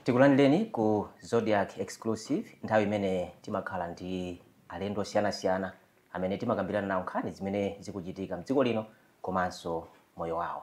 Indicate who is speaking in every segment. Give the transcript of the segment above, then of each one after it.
Speaker 1: tikulandireni ku Zodiak exclusive nthawi imene timakhala ndi alendo osiyanasiyana amene timakambirana nawo nkhani zimene zikuchitika mdziko lino komanso moyo wawo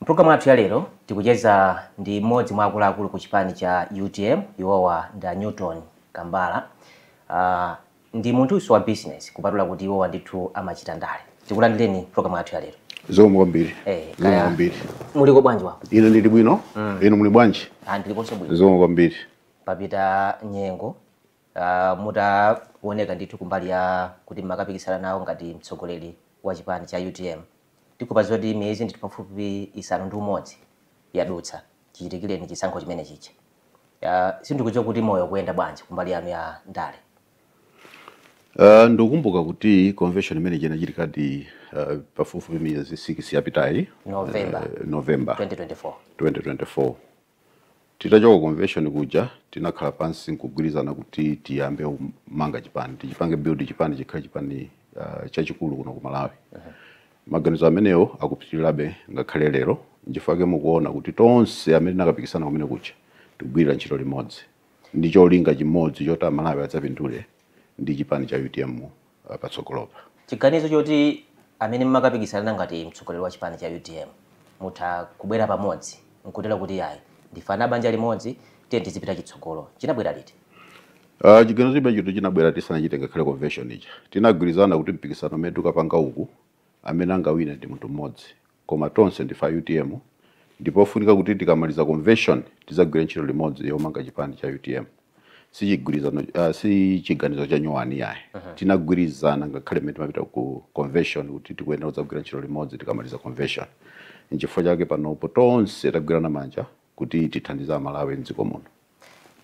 Speaker 1: Mpulogalamu yathu ya lero tikucheza ndi mmodzi mwa akuluakulu ku chipani cha utm iwowa ndi a Newton Kambala. Uh, ndi munthunso wa business kupatula kuti iwowa ndithu amachita ndale. Tikulandireni mpulogalamu yathu ya lero. Zikomo kwambiri.
Speaker 2: Eh, Zikomo kaya
Speaker 1: kwambiri. muliko bwanji kwanuko? Ine ndili
Speaker 2: bwino. Mm. Inu muli bwanji? Ah, ndilikonso bwino.
Speaker 1: Zikomo
Speaker 2: kwambiri.
Speaker 1: papita nyengo uh, mutaoneka ndithu kumbali ya kuti mmakapikisana nawo ngati mtsogoleri wa chipani cha utm Tikuona zoti miyezi ndithu pafupifupi isanu ndi umodzi yadutsa chichitikireni chisankho chimene chija. Sindikudziwa kuti moyo ukuyenda bwanji kumbali yanu ya ndale.
Speaker 2: Uh, ndikukumbuka kuti convention imene ija inachitikadi uh, pafupifupi miyezi 6 yapitayi November, uh, November 2024. 2024. Titachoka ku convention kuja tinakhala pansi nkugwirizana kuti tiyambe kumanga chipani tichipange build chipani chikhale chipani uh, chachikulu kuno ku Malawi uh -huh. maganizo amenewo akupitirirabe ngakhale lero nchifukwa chake mukuona kuti tonse amene tinakapikisana kumene kuja tikugwirira ntchito limodzi ndi cholinga chimodzi choti amalawi adzapindule ndi chipani cha utm uh, patsogolopa chiganizo
Speaker 1: choti amene mmakapikisana ngati mtsogoleri wa chipani cha utm mutha kubwera pamodzi nkutere kuti ayi ndife banja limodzi tiyeni tizipita chitsogolo chinabwera liti Uh,
Speaker 2: chiganizo chimenecho chinabwera tisanachite ngakhale convention ija tinagwirizana kuti mpikisano umene tikapanga uku amene angawine ndi munthu mmodzi koma tonse ndife a utm ndipofunika kuti tikamaliza convention tizagwire ntchito limodzi yomanga chipani cha utm sichigwirizano uh, si chiganizo cha nyowani yayi uh -huh. tinagwirizana ngakhale mmene timapita ku convention kuti tikuyenera kudzagwira ntchito limodzi tikamaliza convention nchifukwa chake panopo tonse tagwirana manja kuti tithandize amalawi mdziko muno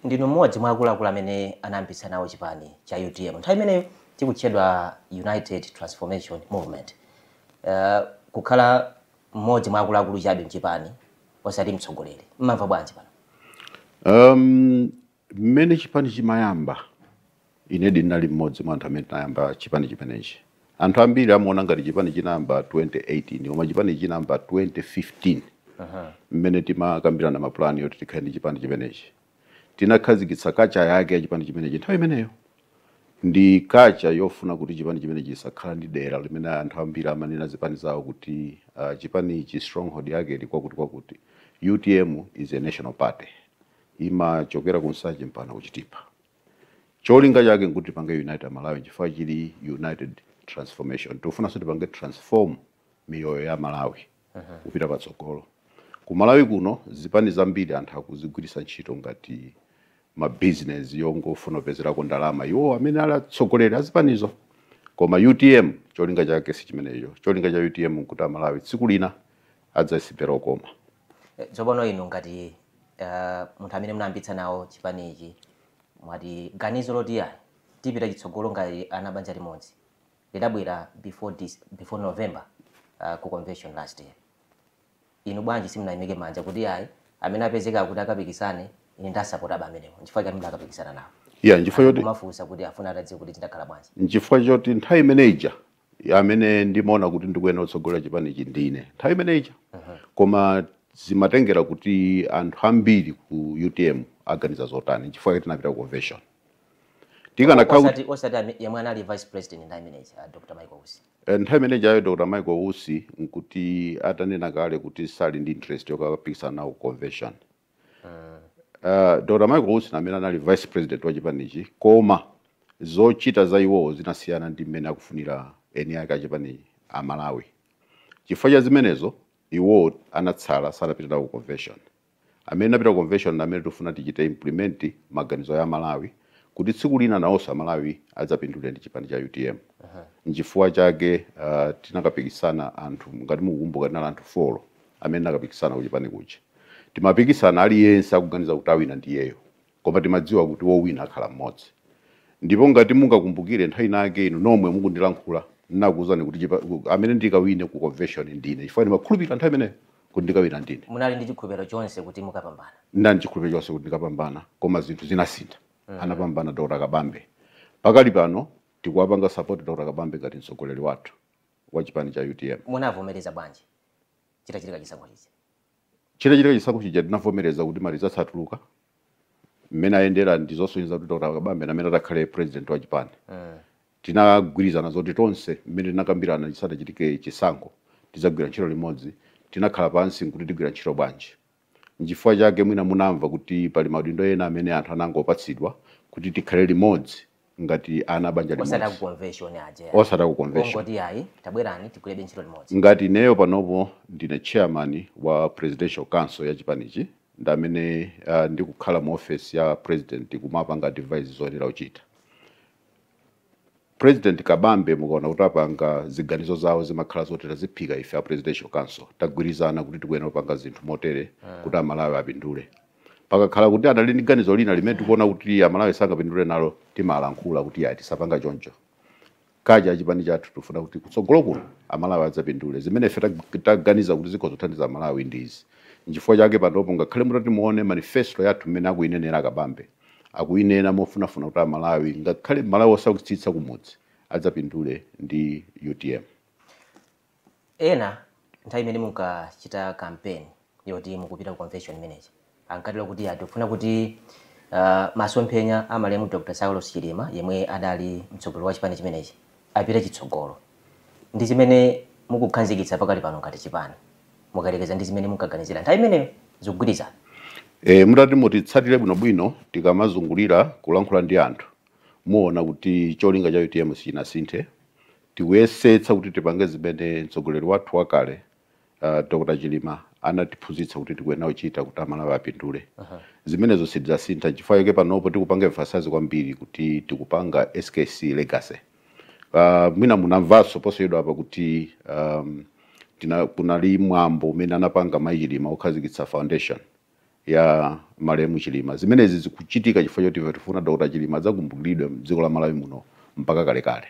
Speaker 2: Ndinu mmodzi
Speaker 1: mwa akuluakulu amene anayambitsa nawo chipani cha utm. Nthawi imeneyo chikutchedwa United Transformation Movement. Uh, kukhala mmodzi mwa akuluakulu chabe mchipani osati mtsogoleri, mmamva bwanji pano? Um,
Speaker 2: mmene chipani chimayamba Inedi ndinali mmodzi mwa anthu amene tinayamba chipani chimenechi. Anthu ambiri amaona ngati chipani chinayamba 2018 koma chipanichi chinayamba 2015 mmene timakambirana mapulani yoti tikhale ndi chipani chimenechi. Tinakhazikitsa kacha yake ya chipani chimenechi nthawi imeneyo. Ndi kacha yofuna kuti chipani chimenechi chisakhala ndi dera limene anthu ambiri amanena zipani zawo kuti ah, chipani ichi stronghold yake ili kwakuti kwakuti. Utm is a national party. Imachokera ku Nsanje mpaka ku Chitipa. cholinga chake nkuti tipange unite amalawi chifukwa chili united transformation tikufunanso tipange transform miyoyo ya amalawi kupita patsogolo ku malawi kuno zipani zambiri anthu akuzigwiritsa ntchito ngati mabizinesi yongofuna kupezerako ndalama iwo amene ali atsogoleri azipanizo koma utm cholinga chake si chimenecho cholinga cha utm nkuti amalawi tsiku lina adzasipera okoma
Speaker 1: Tsopano inu ngati munthu amene munayambitsa nawo chipani ichi mwati ganizo loti yayi tipita chitsogolo ngati ana banja limodzi lidabwera before dis, before November uh, ku convention last year. Inu bwanji simunayimike manja kuti yayi amene apezeka kuti akapikisane ine ndasapota aba amenewo nchifukwa chani mudakapikisana nawo? Yeah, nchifukwa choti munafunsa
Speaker 2: kuti afuna atadziwe
Speaker 1: kuti tidakhala bwanji. Nchifukwa choti nthawi
Speaker 2: imene ija amene ndimaona kuti ndikuyenera kutsogolera chipanichi ndine nthawi imene ija koma zimatengera kuti anthu ambiri ku utm aganiza zotani chifukwa tinapita ku convention
Speaker 1: tikanakhaosati osati yemwe anali vice president nthawi imeneyi uh, dr michael usi eh, nthawi imene jayo dr
Speaker 2: michael usi nkuti atanena kale kuti sali ndi interest yokapikisana nawo ku convention Uh, Dr. Michael Usi amene anali vice president wa chipanichi koma zochita za iwowo zinasiyana ndi mmene akufunira eni ake achipani a Malawi. Chifukwa cha zimenezo iwowo anatsala sanapita nawo ku convention. Amene tinapita ku convention amene tifuna tichite implement maganizo ya aMalawi kuti tsiku lina nawonso a Malawi adzapindule ndi chipani cha UTM. Nchifukwa chake uh, tinakapikisana anthu ngati mukukumbuka tinali anthu folo amene tinakapikisana kuchipani kuja timapikisana aliyense akuganiza kuti awina ndiyeyo koma timadziwa kuti wowina akhala mmodzi ndipo ngati mungakumbukire nthawi inayake inu nomwe mukundilankhula ndinakuwuzani kuti chipa- ku- amene ndikawine ku convention ndine chifukwa ndimakhulupirira nthawi imeneyo kuti ndikawina ndine munali ndi chikhulupiriro
Speaker 1: chonse kuti mukapambana ndinali ndi chikhulupiriro
Speaker 2: chonse kuti ndikapambana koma zinthu zinasintha anapambana dr kabambe pakali pano tikuwapanga support dr kabambe ngati mtsogoleri wathu wa chipani cha utm munavomereza bwanji
Speaker 1: chitachitika chisankho chija
Speaker 2: chitachitika chisankho chija tinavomereza kuti ma results atuluka mmene ayendera ndi zosonyeza kuti dr kabambe ndi amene atakhale president wa chipani mm. tinagwirizana zoti tonse mmene tinakambirana chisanachitike chisankho tidzagwira ntchito limodzi tinakhala pansi nkuti tigwira ntchito bwanji N'chifukwa chake mwina munamva kuti pali maudindo ena amene anthu anangopatsidwa kuti tikhale limodzi ngati ana a banja limodzi. Osati aku
Speaker 1: convention aja ya. Osati aku convention. Ongoti
Speaker 2: ayi tabwerani
Speaker 1: tigwirebe ntchito limodzi. Ngati ineyo
Speaker 2: panopo ndine chairman wa Presidential Council ya chipanichi ndi amene ah, ndikukhala mu ofesi ya president kumapanga advise zoyenera kuchita. President Kabambe mukaona kuti apanga ziganizo zawo zimakhala zoti taziphika ife a Presidential Council tagwirizana kuti tikuyenera kupanga zinthu motere kuti Amalawi apindule. Pakakhala kuti anali ndi ganizo lina limene tikuona kuti Amalawi sangapindule nalo timalankhula kuti ayi tisapanga choncho. Kaja chipani chathu tikufuna kuti kutsogolo kuno Amalawi adzapindule zimene ife tag- taganiza kuti zikhoza kuthandiza Amalawi ndi izi. Nchifukwa chake panopo ngakhale mutati muone manifesto yathu mmene akuyinenera Kabambe akuyinena mofunafuna kuti amalawi ngakhale mmalawi osaukitsitsa kumudzi adzapindule ndi
Speaker 1: utm ena nthawi imene munkachita kampeni yoti mukupita ku convention imene ija ankatero kuti ya tikufuna kuti uh, masomphenya a malemu dr saulos chilima yemwe adali mtsogoleri wa chipani chimenechi apite chitsogolo ndi chimene mukukhazikitsa pakali pano ngati chipani mukayerekeza ndi zimene munkaganizira nthawi imeneyo zikugwirizana E,
Speaker 2: mutati mutitsatire bwinobwino tikamazungulira kulankhula ndi anthu muona kuti cholinga cha utm sichinasinthe tikuyesetsa kuti tipange zimene mtsogoleri wathu wakale uh, dr chilima anatiphunzitsa kuti tikuyenera kuchita kuti amalawi apindule zimenezo sitidzasintha chifukwa chake panopo tikupanga emphasize kwambiri kuti tikupanga skc legacy Uh, mwina munamvanso posachedwa apa kuti um, tina, kunali mwambo umene anapanga mayi Chilima okhazikitsa foundation ya malemu Chilima. Zimenezi zikuchitika chifukwa choti ife tifuna Dr. Chilima adzakumbukiridwe mdziko la Malawi muno mpaka kalekale.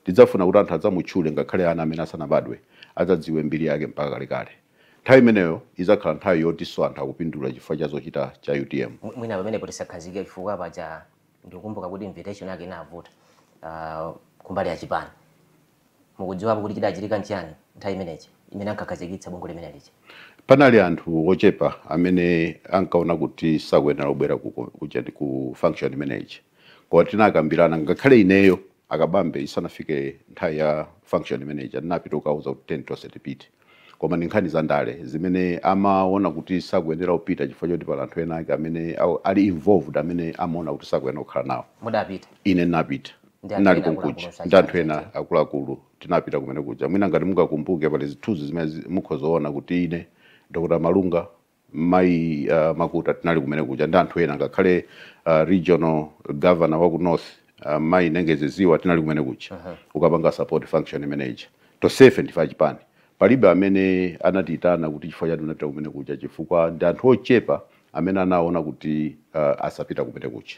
Speaker 2: Tidzafuna kuti anthu adzamutchule ngakhale ana amene asanabadwe adzadziwe mbiri yake mpaka kalekale. Nthawi imeneyo idzakhala nthawi yotinso anthu akupindula chifukwa cha zochita za UTM. Mwina pamenepo tisakhazikike
Speaker 1: chifukwa paja Ndikukumbuka kuti invitation yake inavuta kumbali ya chipani. Mukudziwapo kuti chidachitika nchiyani nthawi imene ija imene ankakhazikitsa bungwe limene lija? Panali anthu
Speaker 2: ochepa amene ankaona kuti sakuyenera kubwera ku, ku, ku function imene ija. Koma tinakambirana ngakhale ineyo a Kabambe isanafike nthawi ya function imene ija ndinapita kukauza kuti tiyeni tonse tipite. koma ndi nkhani za ndale zimene amaona kuti sakuyenera kupita chifukwa choti pali anthu ena ake amene au- ali involved amene amaona kuti sakuyenera kukhala nawo mudapita ine
Speaker 1: ndinapita
Speaker 2: ndinali konkuja ndi anthu ena akuluakulu tinapita kumene kuja mwina ngati mungakumbuke pali zithunzi zimene zi- mukhoza kuona kuti ine dr malunga Mayi uh, Makuta tinali kumene kuja ndi anthu ena ngakhale uh, regional governor wa ku north uh, mayi Nengezi Ziwa tinali kumene kuja uh -huh. kukapanga support function imene ija tonsefe ndife achipani palibe amene anatiitana kuti chifukwa chati unapita kumene kuja chifukwa ndi anthu ochepa amene anaona kuti uh, asapita kumene kuja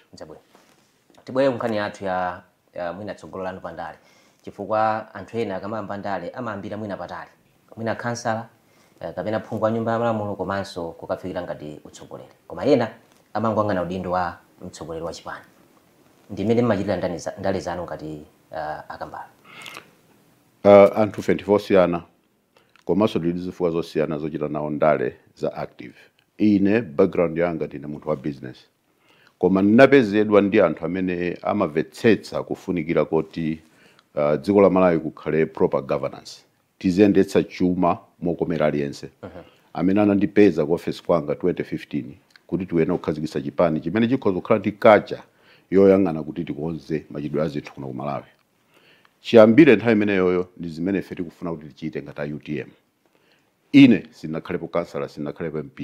Speaker 1: Tibwere kunkhani yathu ya uh, mwina tsogolo lanu pa ndale chifukwa anthu ena akamayamba ndale amayambira mwina patali mwina khansala eh, kapena phungu wa nyumba ya malamulo komanso kukafikira ngati utsogoleri koma ena amangoyang'ana udindo wa mtsogoleri wa chipani ndi mmene mmaonera ndani za- ndale zanu ngati uh, a
Speaker 2: Kambala Uh, anthu timakhala osiyana komanso tili ndi zifukwa zosiyana zochita nawo ndale za active ine background yanga ndine munthu wa business Koma ndinapezedwa ndi anthu amene amamvetsetsa kufunikira koti dziko la Malawi kukhale proper governance, tiziyendetsa chuma mokomera aliyense, amene anandipeza ku ofesi kwanga 2015 kuti tikuyenera kukhazikitsa chipani chimene chikhoza kukhala ndi culture yoyang'ana kuti tikonze machitidwe a zinthu kuno ku Malawi. Chiyambire nthawi imeneyoyo ndi zimene ife tikufuna kuti tichite ngati a UTM. Ine sindinakhalepo councillor, sindinakhalepo MP.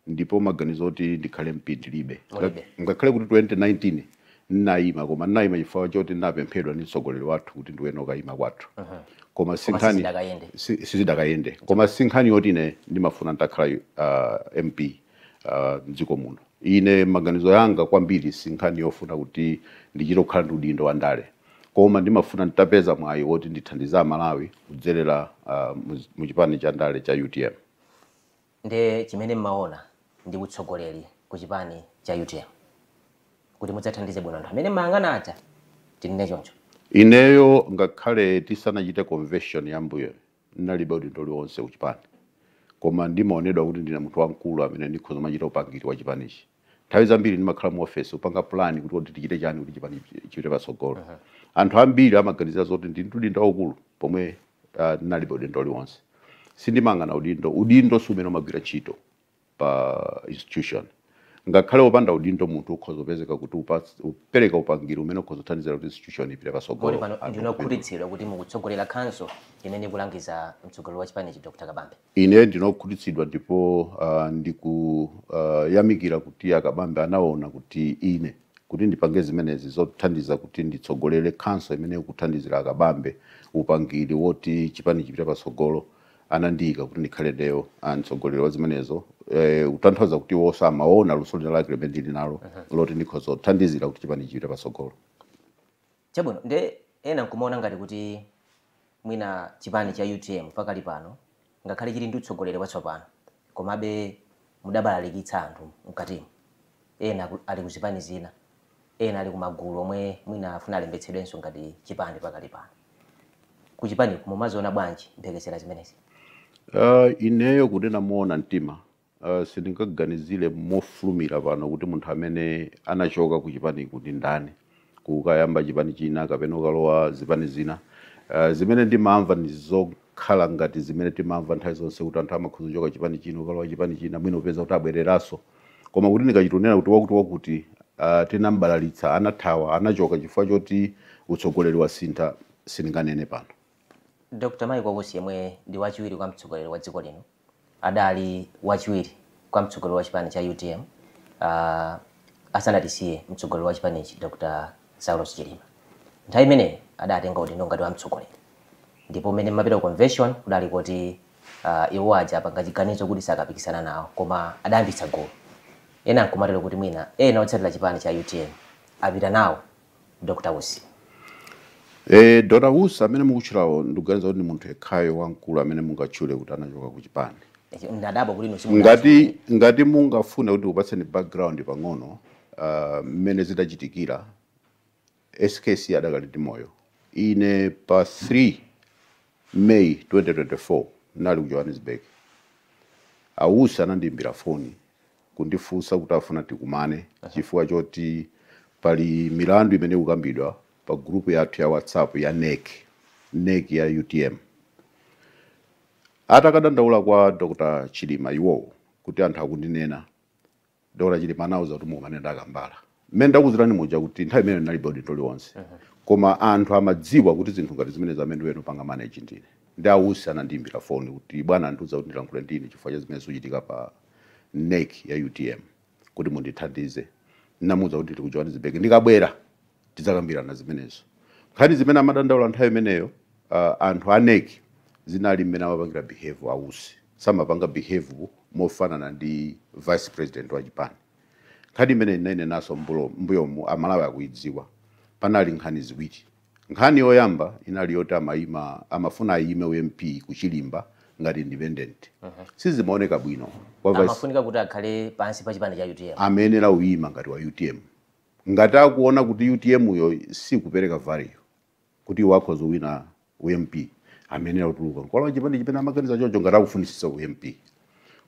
Speaker 2: ndipo maganizo oti ndikhale MP ndilibe. Nga- Mulibe. Ngakhale kuti 2019 ndinayima koma ndinayima chifukwa choti ndinapemphedwa ndi mtsogoleri wathu kuti ndiyenera kukayima kwathu. Koma sinkhani Sizidakayende. si- sizidakayende. Koma sinkhani yoti ine ndimafuna nditakhala uh, MP uh, mdziko muno. Ine maganizo anga kwambiri sinkhani yofuna kuti ndichite kukhala ndi udindo wa ndale. Koma ndimafuna nditapeza mwayi woti ndithandize aMalawi kudzerera uh, mu- mu chipani cha ndale cha UTM.
Speaker 1: Nde chimene mmaona ndi utsogoleri ku chipani cha UTM kuti mudzathandize bwino anthu amene mmayang'ana aja tinene choncho? Ineyo
Speaker 2: ngakhale tisanachite convention ya mbuyoyo ndinalibe udindo uliwonse ku chipani koma ndimaonedwa kuti ndine munthu wamkulu amene ndikhoza kumachita upangiri wa chipanichi. nthawi zambiri ndimakhala mu office kupanga plan kuti kodi tichite chani kuti chipani chipite patsogolo anthu ambiri amaganizira zoti ndili ndi udindo waukulu pomwe ah, ndinalibe udindo uliwonse sindimayang'ana udindo udindo si umene umagwira ntchito pa institution ngakhale wopanda udindo munthu ukhoza kupezeka kuti upas- upereka upangiri umene ukhoza kuthandizira kuti institution ipite kodi patsogolo pano Panopa ndinu
Speaker 1: okhutitsidwa kuti mukutsogolera council imene ikulangiza mtsogoleri wa chipanichi Dr Kabambe Ine ndine
Speaker 2: okhutitsidwa ndipo a, ndiku, a, yamikira kuti a Kabambe anaona kuti ine, kuti ndipange zimenezi zothandiza kuti nditsogolere council imene ikuthandizira a Kabambe upangiri woti chipani chipite patsogolo, anandiyika kuti ndikhale ndiye, a, mtsogoleri wa zimenezo, e, kutanthauza kuti iwonso amaona luso linalake limene ndili nalo loti ndikhoza kuthandizira kuti chipani chipite patsogolo.
Speaker 1: Chabwino, ndiye ena nkumaona ngati kuti mwina chipani cha utm pakali pano ngakhale chili ndi utsogoleri watsopano komabe mudabalalikitsa anthu mkatimo. Ena ali ku zipani zina, ena ali ku magulu omwe mwina afuna alembetsedwenso ngati chipani pakali pano. Ku chipaniku mumaziona bwanji mphekesera zimenezi?
Speaker 2: Ineyo kuti ndinene moona mtima, Sindingaganizire mofulumira pano kuti munthu amene anachoka ku chipaniku ndi ndani kukayamba chipani china kapena kukalowa zipani zina. Zimene ndimamva ndi zokhala ngati zimene timamva nthawi zonse kuti anthu amakhoza kuchoka chipani china kukalowa chipani china mwina n'kupeza kuti abwereranso. Koma kuti ndingachite kunena kuti wakuti wakuti tinam'balalitsa, anathawa, anachoka chifukwa choti utsogoleri wasintha, sindinganene pano. Dr.
Speaker 1: Michael Usi yemwe ndi wachiwiri kwa mtsogoleri wa dziko lino adali wachiwiri kwa mtsogoleri wa chipani cha utm uh, asanatisiye mtsogoleri wa chipanichi Dr. Saulos Chilima. Nthawi imeneyo adatenga udindo ngati wa mtsogoleri, ndipo mmene mmapita ku convention kudali kuti uh, iwo aja apanga chiganizo kuti sakapikisana nawo, koma adayambitsa gulu ena nkumatero kuti mwina ena otsatira chipani cha utm apita nawo Dr Usi?
Speaker 2: Eh, Dr Usi amene mukutchulawo ndikuganiza kuti ndi munthu yekhayo wamkulu amene mungatchule kuti anachoka ku chipani ndadabwa kuti inu
Speaker 1: simunatchule. ngati
Speaker 2: ngati mungafune ndikupatseni background pang'ono ah, mmene zidachitikira skc adakali ndi moyo ine pa 3 may 2024 ndinali ku johannesburg a Usi anandiimbira foni kundifunsa kuti afuna tikumane chifukwa choti pali milandu imene ikukambidwa pa group yathu ya WhatsApp ya NEC, NEC ya utm. Atakadandaula kwa Dr. Chilima iwowo kuti anthu akundinena, Dr. Chilima anawauza kuti mukumane ndi a Kambala. mmene ndakuuzirani muja kuti nthawi imeneyo ndinalibe udindo uliwonse koma anthu amadziwa kuti zinthu ngati zimenezi amene angapange manage ndine nde a Usi anandiyimbira foni kuti bwana andiuza kuti ndilankhule ndi inu chifukwa cha zimene zikuchitika pa NEC ya utm kuti mundithandize ndinawauza kuti ndili ku johannesburg ndikabwera tidzakambirana zimenezo nkhani zimene amadandaula nthawi imeneyo uh, anthu a NEC zinali mmene amapangira behave a Usi samapanga behave mofanana ndi vice president wa chipani Nkhani imeneyi ndinainenanso m'mbulo- m'mbuyomu, Amalawi akuidziwa. Panali nkhani ziwiri. Nkhani yoyamba inali yoti amaima, amafuna aime u MP ku Chilimba ngati independent. Sizimaoneka bwino kwa vice Amafunika
Speaker 1: kuti akhale pansi pa chipani cha utm. amayenera kuima ngati
Speaker 2: wa utm. Ngati akuona kuti utm yo sikupereka value, kuti iwo akhoza kuwina u MP amayenera kutuluka nkwalowa chipani chimene amaganiza chocho ngati akufunitsitsa u MP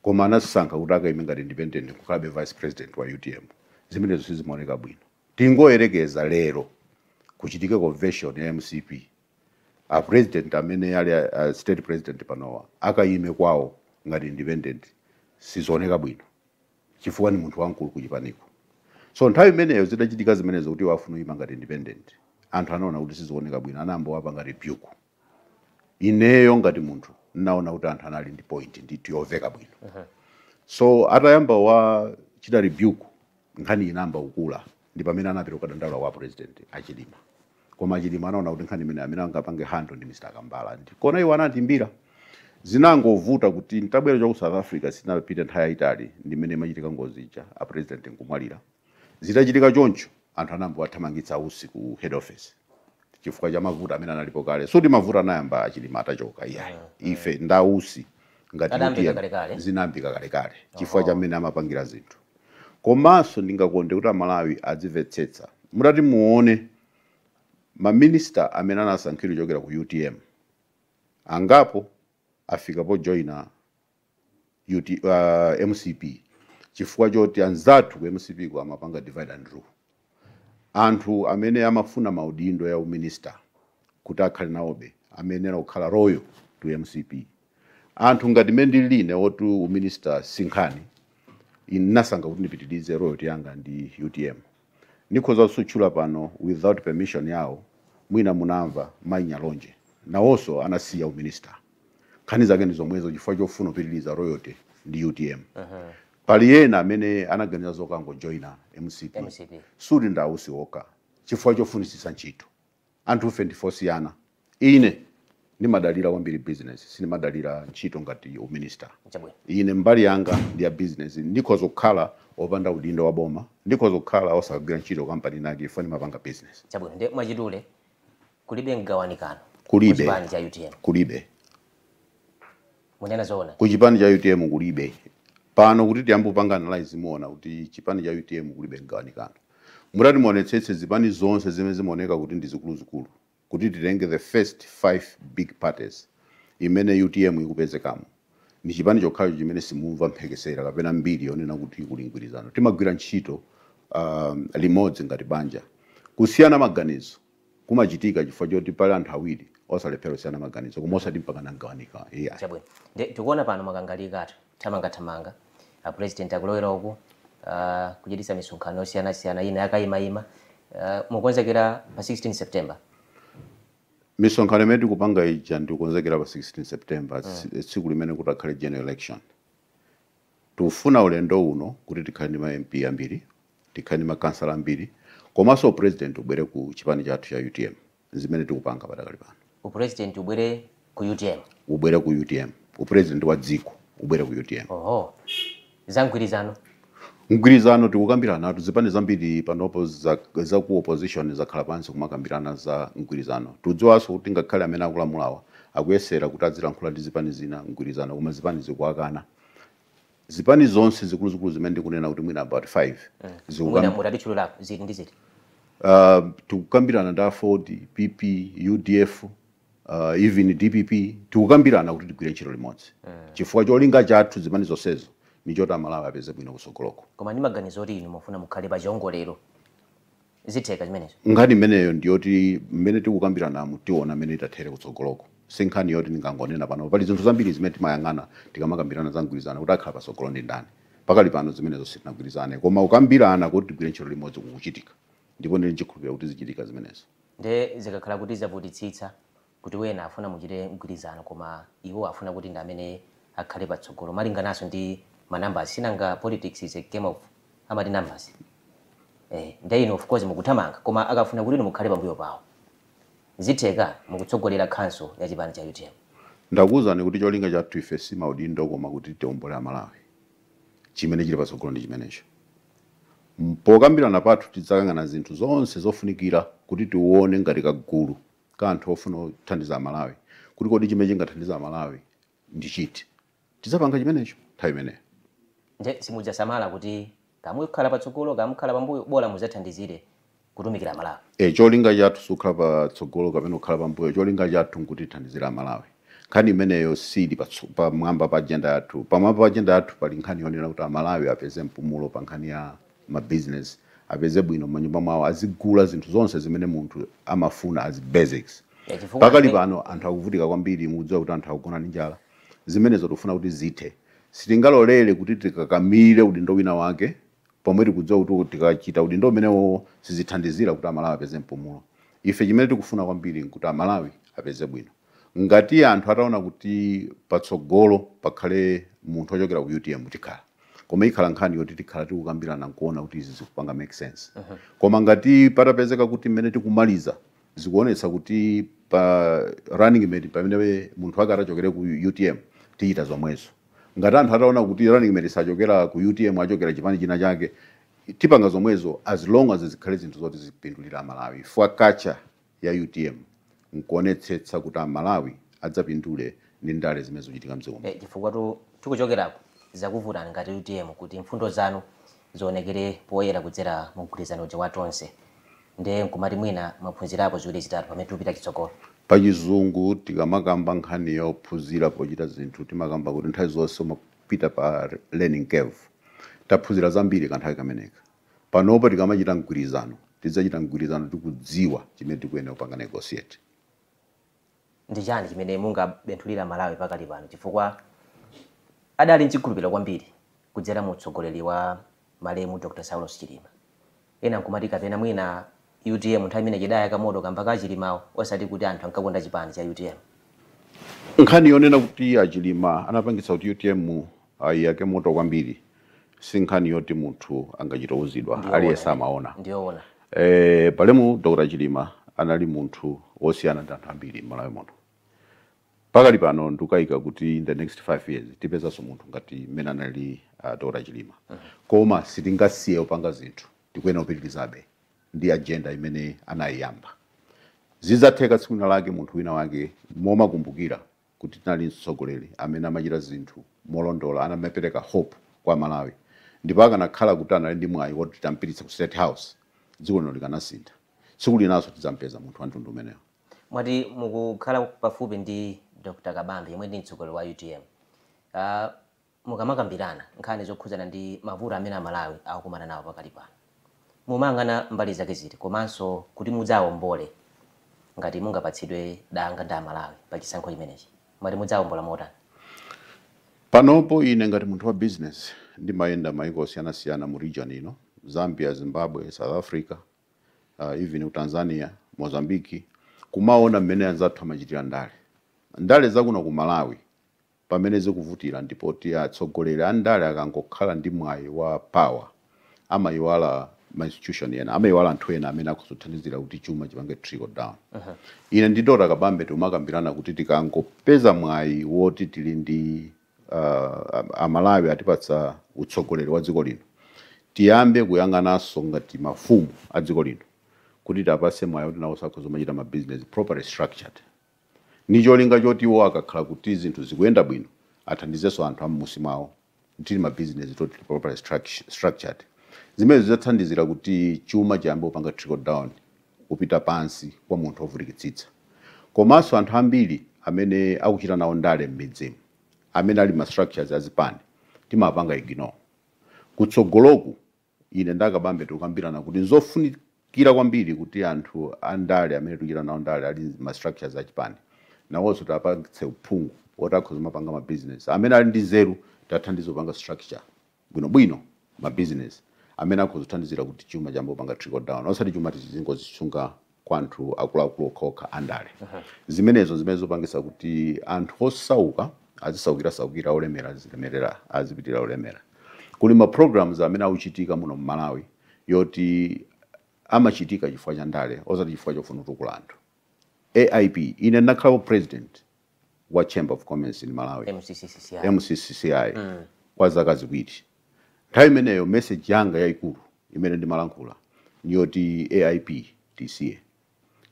Speaker 2: koma anasankha kuti akaime ngati independent kukhalabe vice president wa utm zimenezo sizimaoneka bwino tingoyerekeza lero kuchitika convention ya mcp a president amene ali a, a state president panowa akaime kwawo ngati independent sizioneka bwino chifukwa ndi munthu wamkulu kuchipaniko so nthawi imeneyo zidachitika zimenezo kuti iwo afuna kuyima ngati independent anthu anaona kuti sizioneka bwino anayamba kuwapanga rebuke ineyo ngati munthu ndinaona kuti anthu anali ndi point ndithu yoveka bwino so atayamba kuwachita rebuke nkhani inayamba kukula ndi pamene anapita kukadandaula kwa a president achilima koma achilima anaona kuti nkhani imene amene angapange handle ndi mr kambala ndekuno iwo anatiimbira zinangovuta kuti nditabwera cha ku south africa sinapite nthawi yayitali ndi mmene imachitika ngozi ija a president nkumwalira zitachitika choncho anthu anayamba kuwathamangitsa usi ku head office chifukwa cha mavuto amene analipo kale sikuti mavuto anayamba achilima atachoka iyayi ife ndi a Usi ngati UTM zinayambika kalekale chifukwa cha mmene amapangira zinthu Komanso ndingakonde kuti Amalawi adzimvetsetsa. Mutati muone ma minister amene anasankhidwa kuchokera ku utm, angapo afika po joina UT, uh, mcp chifukwa choti anzathu ku mcp ku amapanga divide and rule. Anthu amene amafuna maudindo ya u minister kuti akhale nawobe amayenela kukhala loyal to mcp. Anthu ngati mmene ndilili ine oti u minister si nkhani, ine ndinasankha kuti ndipitilize loyalty yanga ndi utm. Nikhoza kusatchula pano without permission yawo mwina munamva Mai Nyalonje nawonso anasiya u minister. nkhani zake ndi zomwezo chifukwa chofuna kupitiriza loyalty ndi utm pali ena amene anaganiza zokangojoina mcp sikuti ndi a Usi okha chifukwa chofunitsitsa ntchito anthufe ndife osiyana ine ndimadalira kwambiri business sindimadalira ntchito ngati uminista ine mbali yanga ndi ya business ndikhoza kukhala opanda udindo wa boma ndikhoza kukhala osagwira ntchito kampani inayake chifukwa ndimapanga business chabwino nde mwachidule Kulibe mgawanikano
Speaker 1: Kulibe. Ku chipani cha utm. Kulibe. Munena
Speaker 2: zoona? Ku chipani cha utm kulibe. Pano kuti tiyambe kupanga analyse muwona kuti chipani cha utm kulibe mgawanikano. Mutati muonetsetse zipani zonse zimene zimaoneka kuti ndi zikuluzikulu, kuti titenge the first 5 big parties imene utm ikupezekamo, ndi chipani chokhacho chimene simumva mphekesera kapena mbiri yonena kuti kuli mgwirizano. Timagwira ntchito, aah, limodzi ngati banja. Kusiyana maganizo kumachitika chifukwa choti pali anthu awiri salephera kusiyana maganizo koma osati mpakana kugawanika iya chabwino
Speaker 1: nde tikuona pano makangalika anthu thamangathamanga a president akulowera uku uh, kuchititsa misonkhano yosiyanasiyana ina ya kayimayima uh, mukonzekera pa 16
Speaker 2: september misonkhano imene tikupanga ija ndikukonzekera pa 16 september mm. tsiku limene kutakhale general election Tikufuna ulendo uno kuti tikhale ndi ma MP ambiri, tikhale ndi makhansala ambiri komanso upulezidenti ubwere ku chipani chathu cha utm. N'zimene tikupanga padakali pano. Upulezidenti ubwere ku
Speaker 1: utm? Ubwere ku utm.
Speaker 2: Upulezidenti wa dziko ubwere ku utm. Oho. Za
Speaker 1: mgwirizano?
Speaker 2: Mgwirizano tikukambiranatu. Zipani zambiri panopo za ku opposition zakhala pansi kumakambirana za mgwirizano. Tikudziwanso kuti ngakhale amene akulamulawa akuyesera kuti azilankhula ndi zipani zina mgwirizano koma zipani zikuwakana. zipani zonse zikuluzikulu zimene ndikunena kuti mwina about 5
Speaker 1: zikukam- mutatichululapo ziti ndi ziti uh,
Speaker 2: tikukambirana ndi aford pp udf uh, even dpp tikukambirana kuti tigwire ntchito limodzi chifukwa cholinga chathu zipani zonsezo ndi choti amalawi apeze bwino kusogoloko koma ndi maganizo oti inu
Speaker 1: mufuna mukhale pa chiongolero zitheka zimenezo nkhani imeneyo ndiyoti
Speaker 2: mmene tikukambiranamu tiona mmene itathere kutsogoloko si nkhani yoti ndingangonena pano pali zinthu zambiri zimene timayang'ana tikamakambirana za mgwirizano kuti akhala patsogolo ndi ndani pakali pano zimenezo sitinagwirizane koma kukambirana kuti tigwire ntchito limodzi kukuchitika ndipo ndili nchikhulupirira kuti zichitika zimenezo nde zikakhala
Speaker 1: kuti zavutitsitsa kuti wena afuna muchite mgwirizano koma iwo afuna kuti ndi amene akhale patsogolo malingananso ndi ma numbers sinanga politics is a game of amati numbers eh nde inu of course mukuthamanga koma akafuna kuti inu mukhale pambuyo pawo zitheka mukutsogolera council ya chipani cha utm. Ndakuuzani
Speaker 2: kuti cholinga chathu ife si maudindo koma kuti tiombole Amalawi. Chimene chili patsogolo ndi chimenecho. Pokambirana pathu tidzakangana zinthu zonse zofunikira kuti tione ngati kagulu ka anthu ofuna kuthandiza Amalawi kuti kodi chimene chingathandize Amalawi ndi chiti. Tidzapanga chimenecho nthawi imeneyo. Ndiye
Speaker 1: simudzasamala kuti kaya mukhala patsogolo, kaya mukhala pambuyo, bola mudzathandizire kutumikira Amalawi. E, cholinga
Speaker 2: chathu sikukhala patsogolo kapena kukhala pambuyo. Cholinga chathu n'kuti tithandizire Amalawi. Nkhani imeneyo siili patso, pamwamba pa ajenda yathu. Pamwamba pa ajenda yathu pali nkhani yonena kuti Amalawi apeze mpumulo pa nkhani ya ma business apeze bwino manyumba mwawo azigula zinthu zonse zimene munthu amafuna as basics Yeah, pakali pano anthu akuvutika kwambiri mukudziwa kuti anthu akugona ndi njala zimenezo tikufuna kuti zithe sitingalolere kuti tikakamire udindo wina wake pomwe tikudziwa kuti tikachita udindo umenewowo sizithandizira kuti amalawi apeze mpumulo ife chimene tikufuna kwambiri nkuti amalawi apeze bwino ngati anthu ataona kuti patsogolo pakhale munthu ochokera ku utm tikhala koma ikhala nkhani yoti tikhala tikukambirana nkuona kuti izi zikupanga make sense uh -huh. koma ngati patapezeka kuti mmene tikumaliza zikuonetsa kuti pa running mate pamene munthu wake achokere ku utm tichita zomwezo ngati anthu ataona kuti running mate sachokera ku utm achokera chipani china chake tipanga zomwezo as long as zikhale zinthu zoti ziwapindulira amalawi fwa kacha ya utm nkuonetsetsa kuti a Malawi adzapindule ndi ndale zimene zikuchitika mdziko muno.
Speaker 1: Chifukwatu tikuchokeraku zidakuvutani ngati utm kuti mfundo zanu zionekere poyera kudzera mu mgwirizano uja wa Tonse nde nkumati mwina mwaphunzirapo ziwiri zitatu pamene tikupita chitsogolo.
Speaker 2: Pachizungu tikamakamba nkhani yophunzira pochita zinthu timakamba kuti nthawi zonse umapita pa learning curve. Taphunzira zambiri kanthawi kameneka. Panopa tikamachita mgwirizano, tidzachita mgwirizano tikudziwa chimene tikuyenera kupanga negotiate.
Speaker 1: Ndi chani chimene mungabenthulireko amalawi pakali pano chifukwa adali nchikhulupiliro kwambiri kudzera mu utsogoleri wa malemu Dr Saulos Chilima? Ena nkumati kapena mwina Utm nthawi imeneyi idayaka moto kamba ka achilimawo osati kuti anthu ankakonda chipani cha
Speaker 2: utm. Nkhani yonena kuti achilima anapangitsa kuti utm iyake moto kwambiri sinkhani yoti munthu angachito uzidwa aliyense amaona. Malemu Dr chilima anali munthu osiyana ndi anthu ambiri mmalawi muno. Pakali pano ndikukayika kuti in the next 5 years tipezanso munthu ngati mmene anali Dr chilima koma sitingasiye kupanga zinthu. tikuyenera kupitirizabe ndi ajenda imene anayiyamba. Zidzatheka tsiku lina lake munthu wina wake muzimukumbukira kuti tinali ndi mtsogoleri amene amachita zinthu molondola, amapereka hope kwa Amalawi, ndipo akanakhala kuti anali ndi mwayi woti titampititsa ku State House, dziko lino likanasintha. Tsiku linanso tidzampeza munthu wa mtundu umenewo. Mwati
Speaker 1: mukukhala pafupi ndi Dr Kabambe yemwe ndi mtsogoleri wa utm. Uh, Mukamakambirana nkhani zokhudzana ndi mavuto amene Amalawi akukumana nawo pakali pano, mumayang'ana mbali zake ziti komanso kuti mudzaombole ngati mungapatsidwe danga ndi Amalawi pa chisankho chimenechi, mumati mudzaombola motani?
Speaker 2: Panopo ine ngati munthu wa bizinesi ndimayenda mayiko osiyanasiyana mu region ino, Zambia, Zimbabwe, South Africa, even ku Tanzania, Mozambique, kumaona mmene anzathu amachitira ndale. Ndale za kuno ku Malawi pamene zikuvutira ndi poti atsogoleri andale akangokhala ndi mwayi wa power amayiwala ma institution ena amayiwala anthu ena amene akhoza kuthandizira kuti chuma chipange trickle down ine ndi Dr. Kabambe tikumakambirana kuti tikangopeza mwayi woti tili ndi uh, amalawi atipatsa utsogoleri wa dziko lino tiyambe kuyang'ananso ngati mafumu a dziko lino kuti tiwapatse mwayi kuti nawonso akhoza kumachita ma business properly structured ndi cholinga choti iwo akakhala kuti zinthu zikuyenda bwino athandizenso anthu am'musi mwawo kuti ma business toti tili properly structured zimenezi zidzathandizira kuti chuma chiyambe kupanga trickle down kupita pansi kwa munthu wovutikitsitsa komanso anthu ambiri amene akuchita nawo ndale m'midzimu amene ali ma structures azipani timapanga ignore kutsogoloku Ine ndi a Kabambe tikukambirana kuti n'zofunikira kwambiri kuti anthu a ndale amene tikuchita nawo ndale ali m'ma structures a chipani nawonso tiwapatse uphungu woti akhoza kumapanga ma business. Amene ali ndi nzeru tiwathandize kupanga structure bwinobwino ma business amene akhoza kuthandizira kuti chuma chiyambe kupanga trickle down osati chuma tizingozisunga kwa anthu akuluakulu okhaokha andale. Zimenezo n'zimene zikupangitsa kuti anthu osauka azisaukirasaukira, olemera azilemerera, azipitirira kulemera. Kuli ma programs amene akuchitika muno m'Malawi yoti amachitika chifukwa cha ndale osati chifukwa chofuna kutukula anthu. AIP, ine ndinakhalako president wa Chamber of Commerce in Malawi MCCCI kwa zaka ziwiri. Nthawi imeneyo message yanga yaikulu imene ndimalankhula ni yoti AIP tisiye,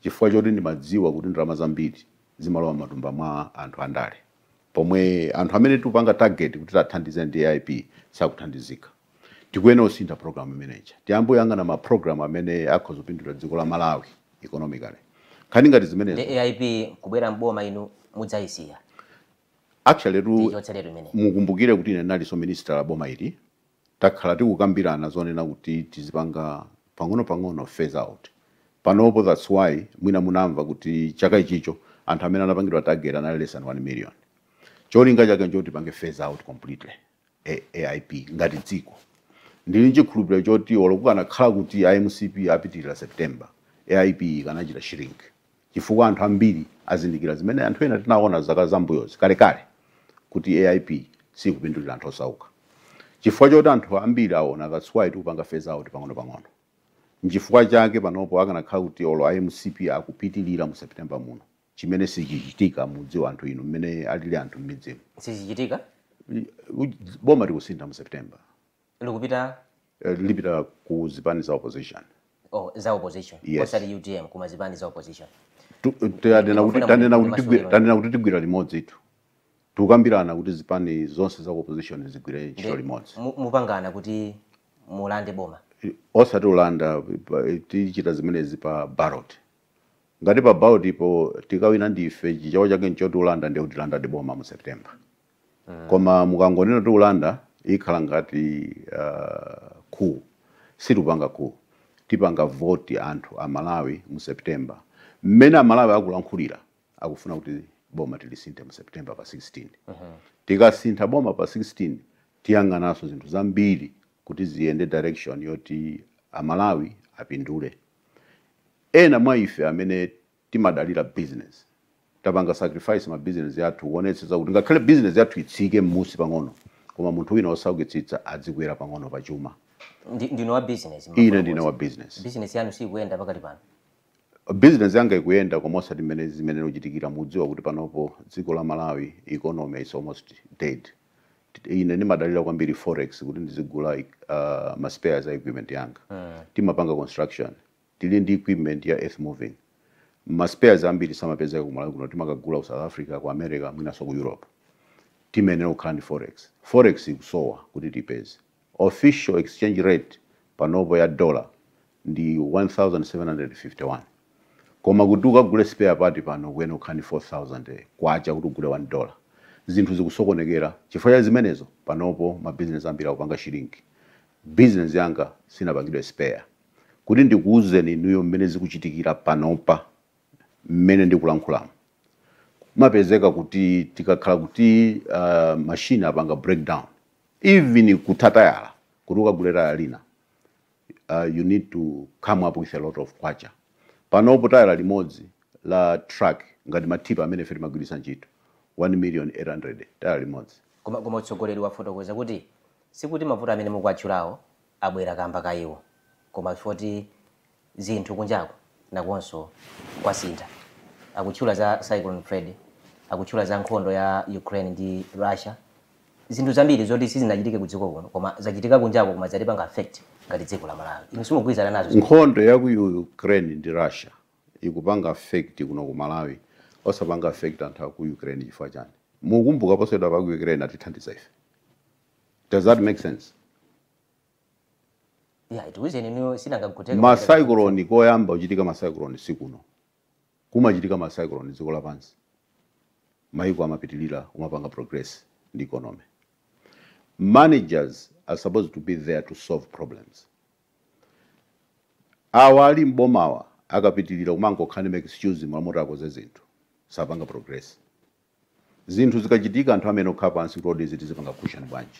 Speaker 2: chifukwa choti ndimadziwa kuti ndalama zambiri zimalowa matumba mwa anthu andale, pomwe anthu amene tikupanga target kuti tathandize ndi AIP sakuthandizika. tikuyenera kusintha program imene ija tiyambe kuyang'ana ma program amene akhoza kupindulira dziko la malawi economically nkhani ngati zimenezo ndi aip kubwera
Speaker 1: mboma inu mudzayisiya
Speaker 2: actually tu tichotseretu imene mukumbukire kuti ine ndinalinso minister wa boma ili takhala tikukambirana zonena kuti tizipanga pang'ono-pang'ono phase out panopo that's why mwina munamva kuti chaka ichicho anthu amene anapangidwa target anali less than 1 million cholinga chake nchoti tipange phase out completely AIP ngati dziko. Ndili nchikhulupiriro choti olo kukanakhala kuti a mcp apitirira September, AIP ikanachita shrink chifukwa anthu ambiri azindikira zimene anthu ena tinaona zaka zambuyozi kalekale kuti AIP siikupindulira anthu osauka chifukwa choti anthu ambiri aona that's why tikupanga phase out pang'onopang'ono. Nchifukwa chake panopo akanakhala kuti olo a mcp akupitirira mu September muno, chimene sichichitika mudziwa anthu inu mmene alili anthu mmidzimu
Speaker 1: sizichitika
Speaker 2: Uj- boma likusintha mu september likupita Eh, lipita ku zipani za opposition
Speaker 1: oh, za opposition Yes. osati utm koma
Speaker 2: zipani
Speaker 1: za opposition Tu- eh, tanena kuti- Mafuna tanena kuti kuti
Speaker 2: tigwi- masukani. tanena kuti tigwira limodzitu tikukambirana kuti zipani zonse za opposition zigwire ntchito limodzi Mu- mupangana kuti
Speaker 1: mulande boma osati ulanda
Speaker 2: pa- tichita zimenezi pa ballot Ngati pa ballot po tikawina ndife chichewa chake nchoti ulanda ndiye tilandadi boma mu September mm. koma mukangonena kuti ulanda ikhala ngati uh, coup situpanga coup tipanga voti anthu a Malawi mu September mmene a Malawi akulankhulira akufuna kuti boma tilisinthe mu September pa 16 uh -huh. tikasintha boma pa 16 tiyang'ananso zinthu zambiri kuti ziyende direction yoti a Malawi apindule Ena mwa ife amene timadalira business tapanga sacrifice ma business athu kuonetsetsa kuti ngakhale business yathu itsike mmusi pang'ono koma munthu wina osaukitsitsa adzikwera pang'ono pa chuma. Ndi, ndinu wa
Speaker 1: business Ine ndine mmafotokoza. wa business.
Speaker 2: Business yanu siikuyenda
Speaker 1: pakali pano? Business
Speaker 2: yanga ikuyenda koma osati mmene zimenera kuchitikira. Mukudziwa kuti panopo dziko la Malawi economy is almost dead. Ine ndimadalira kwambiri forex kuti ndizigula uh, ma spares a equipment yanga. Timapanga construction, tili ndi equipment ya earth moving. Ma spares ambiri samapezeka ku Malawi kuno, timakagula ku South Africa, ku America, mwinanso ku Europe. Timayenera kukhala ndi forex. Forex ikusowa kuti tipeze. Official exchange rate panopo ya dollar 1751 koma kuti ukagule spare part pano ukuyenera kukhala ndi K4000 kuti ugule one dollar. Zinthu zikusokonekera chifukwa cha zimenezo panopo ma business ambiri akupanga shrink. Business yanga sinapangidwe spare kuti ndikuuzeni inuyo mmene zikuchitikira panopa mmene ndikulankhulamu kumapezeka kuti tikakhala kuti machine apanga breakdown even kutha tayala kuti ukagule tayala lina uh, you need to come up with a lot of kwacha panopo tayala limodzi la truck ngati matipa amene ife timagwiritsa ntchito 1 million 800 tayala limodzi koma koma utsogoleri
Speaker 1: wafotokoza kuti sikuti mavuto amene mukuwatchulawo abwera kamba ka iwo koma foti zinthu kunjako nakonso kwasintha akutchula za cyclone freddy akutchula za nkhondo ya ukraine ndi russia zinthu zambiri zoti sizinachitike kudziko kuno koma zachitika kunjako koma zatipanga affect ngati dziko la malawi inu simugwirizana nazo zinthu nkhondo ya ku
Speaker 2: ukraine ndi russia ikupanga affect kuno ku malawi osapanga affect anthu a ku ukraine chifukwa chani mukumbuka posachedwapa ku ukraine atithandiza ife does that make
Speaker 1: sense yeah ndikuwuzeni inuyo sinangaguteka ma
Speaker 2: cyclone koyamba kuchitika ma cyclone sikuno kumachitika ma cyclone dziko lapansi maiko amapitilira kumapanga progress ndi economy managers are supposed to be there to solve problems awa ali m'bomawa akapitilira kumangokhala ndi ma excuse mmalo moti akoze zinthu sapanga progress zinthu zikachitika anthu amayenera kukhala pansi kuti kodi izi tizipanga cushion bwanji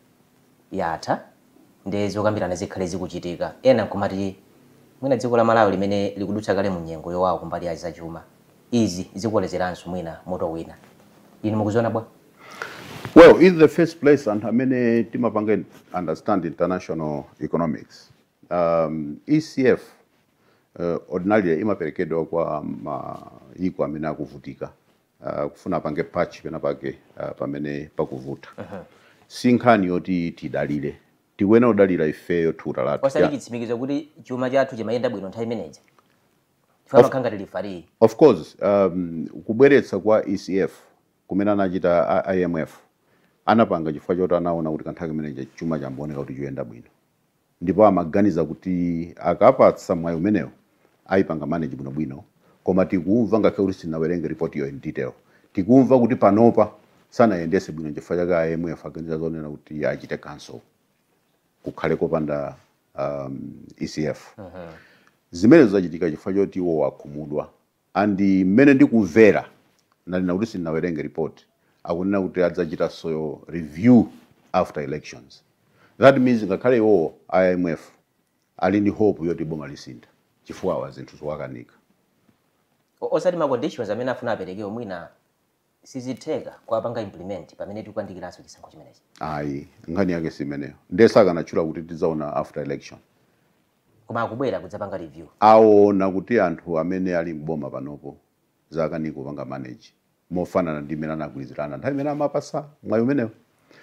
Speaker 1: yatha nde zokambirana zikhale zikuchitika ena nkumati mwina dziko la Malawi limene likudutsa kale mu nyengo yowawa kumbali ya za chuma izi zikukolezeranso mwina moto wina. Inu mukuziona bwa?
Speaker 2: Well, in the first place anthu amene timapanga understand international economics um, ECF uh, ordinarily imaperekedwa kwa mayiko amene akuvutika akufuna apange patch penapake ah, pamene pakuvuta si nkhani yoti tidalire tikuyenera kudalira ifeyo thukuta lathu osati chitsimikizo kuti
Speaker 1: chuma chathu chimayenda bwino nthawi imeneja chifukwa amakhala ngati lifariyi of
Speaker 2: course um, kubweretsa kwa ecf kumene anachita a- imf anapanga chifukwa choti anaona kuti kanthawi kameneja chuma chimaoneka kuti choyenda bwino ndipo amaganiza kuti akapatsa mwayi umenewo ayipanga manage bwinobwino koma tikumva ngakhale kuti sindinawerenge report yo in detail tikumva kuti panopa sanayendese bwino nchifukwa chake a IMF aganiza zonena kuti achite cancel kukhale kopanda um, ECF zimenezo zachitika chifukwa choti iwo wakhumudwa And mmene ndikumvera ndanena kuti sindinawerenge report akunena kuti adzachitaso review after elections that means ngakhale iwowo a imf ali ndi hope yoti boma lisintha chifukwa awa zinthu zikuwakanika.
Speaker 1: Osati ma conditions amene afuna aperekewo mwina sizitheka kuwapanga implement pamene tikuyandikiranso chisankho chimenechi. Ayi
Speaker 2: nkhani yake simeneyo nde sakanatchula kuti tidzaona after election. Koma
Speaker 1: akubwera kudzapanga review. Awona kuti
Speaker 2: anthu amene ali m'boma panopo zakanika kupanga manage mofanana ndi mmene anagwirizirana nthawi imene amawapatsa mwayi umenewo.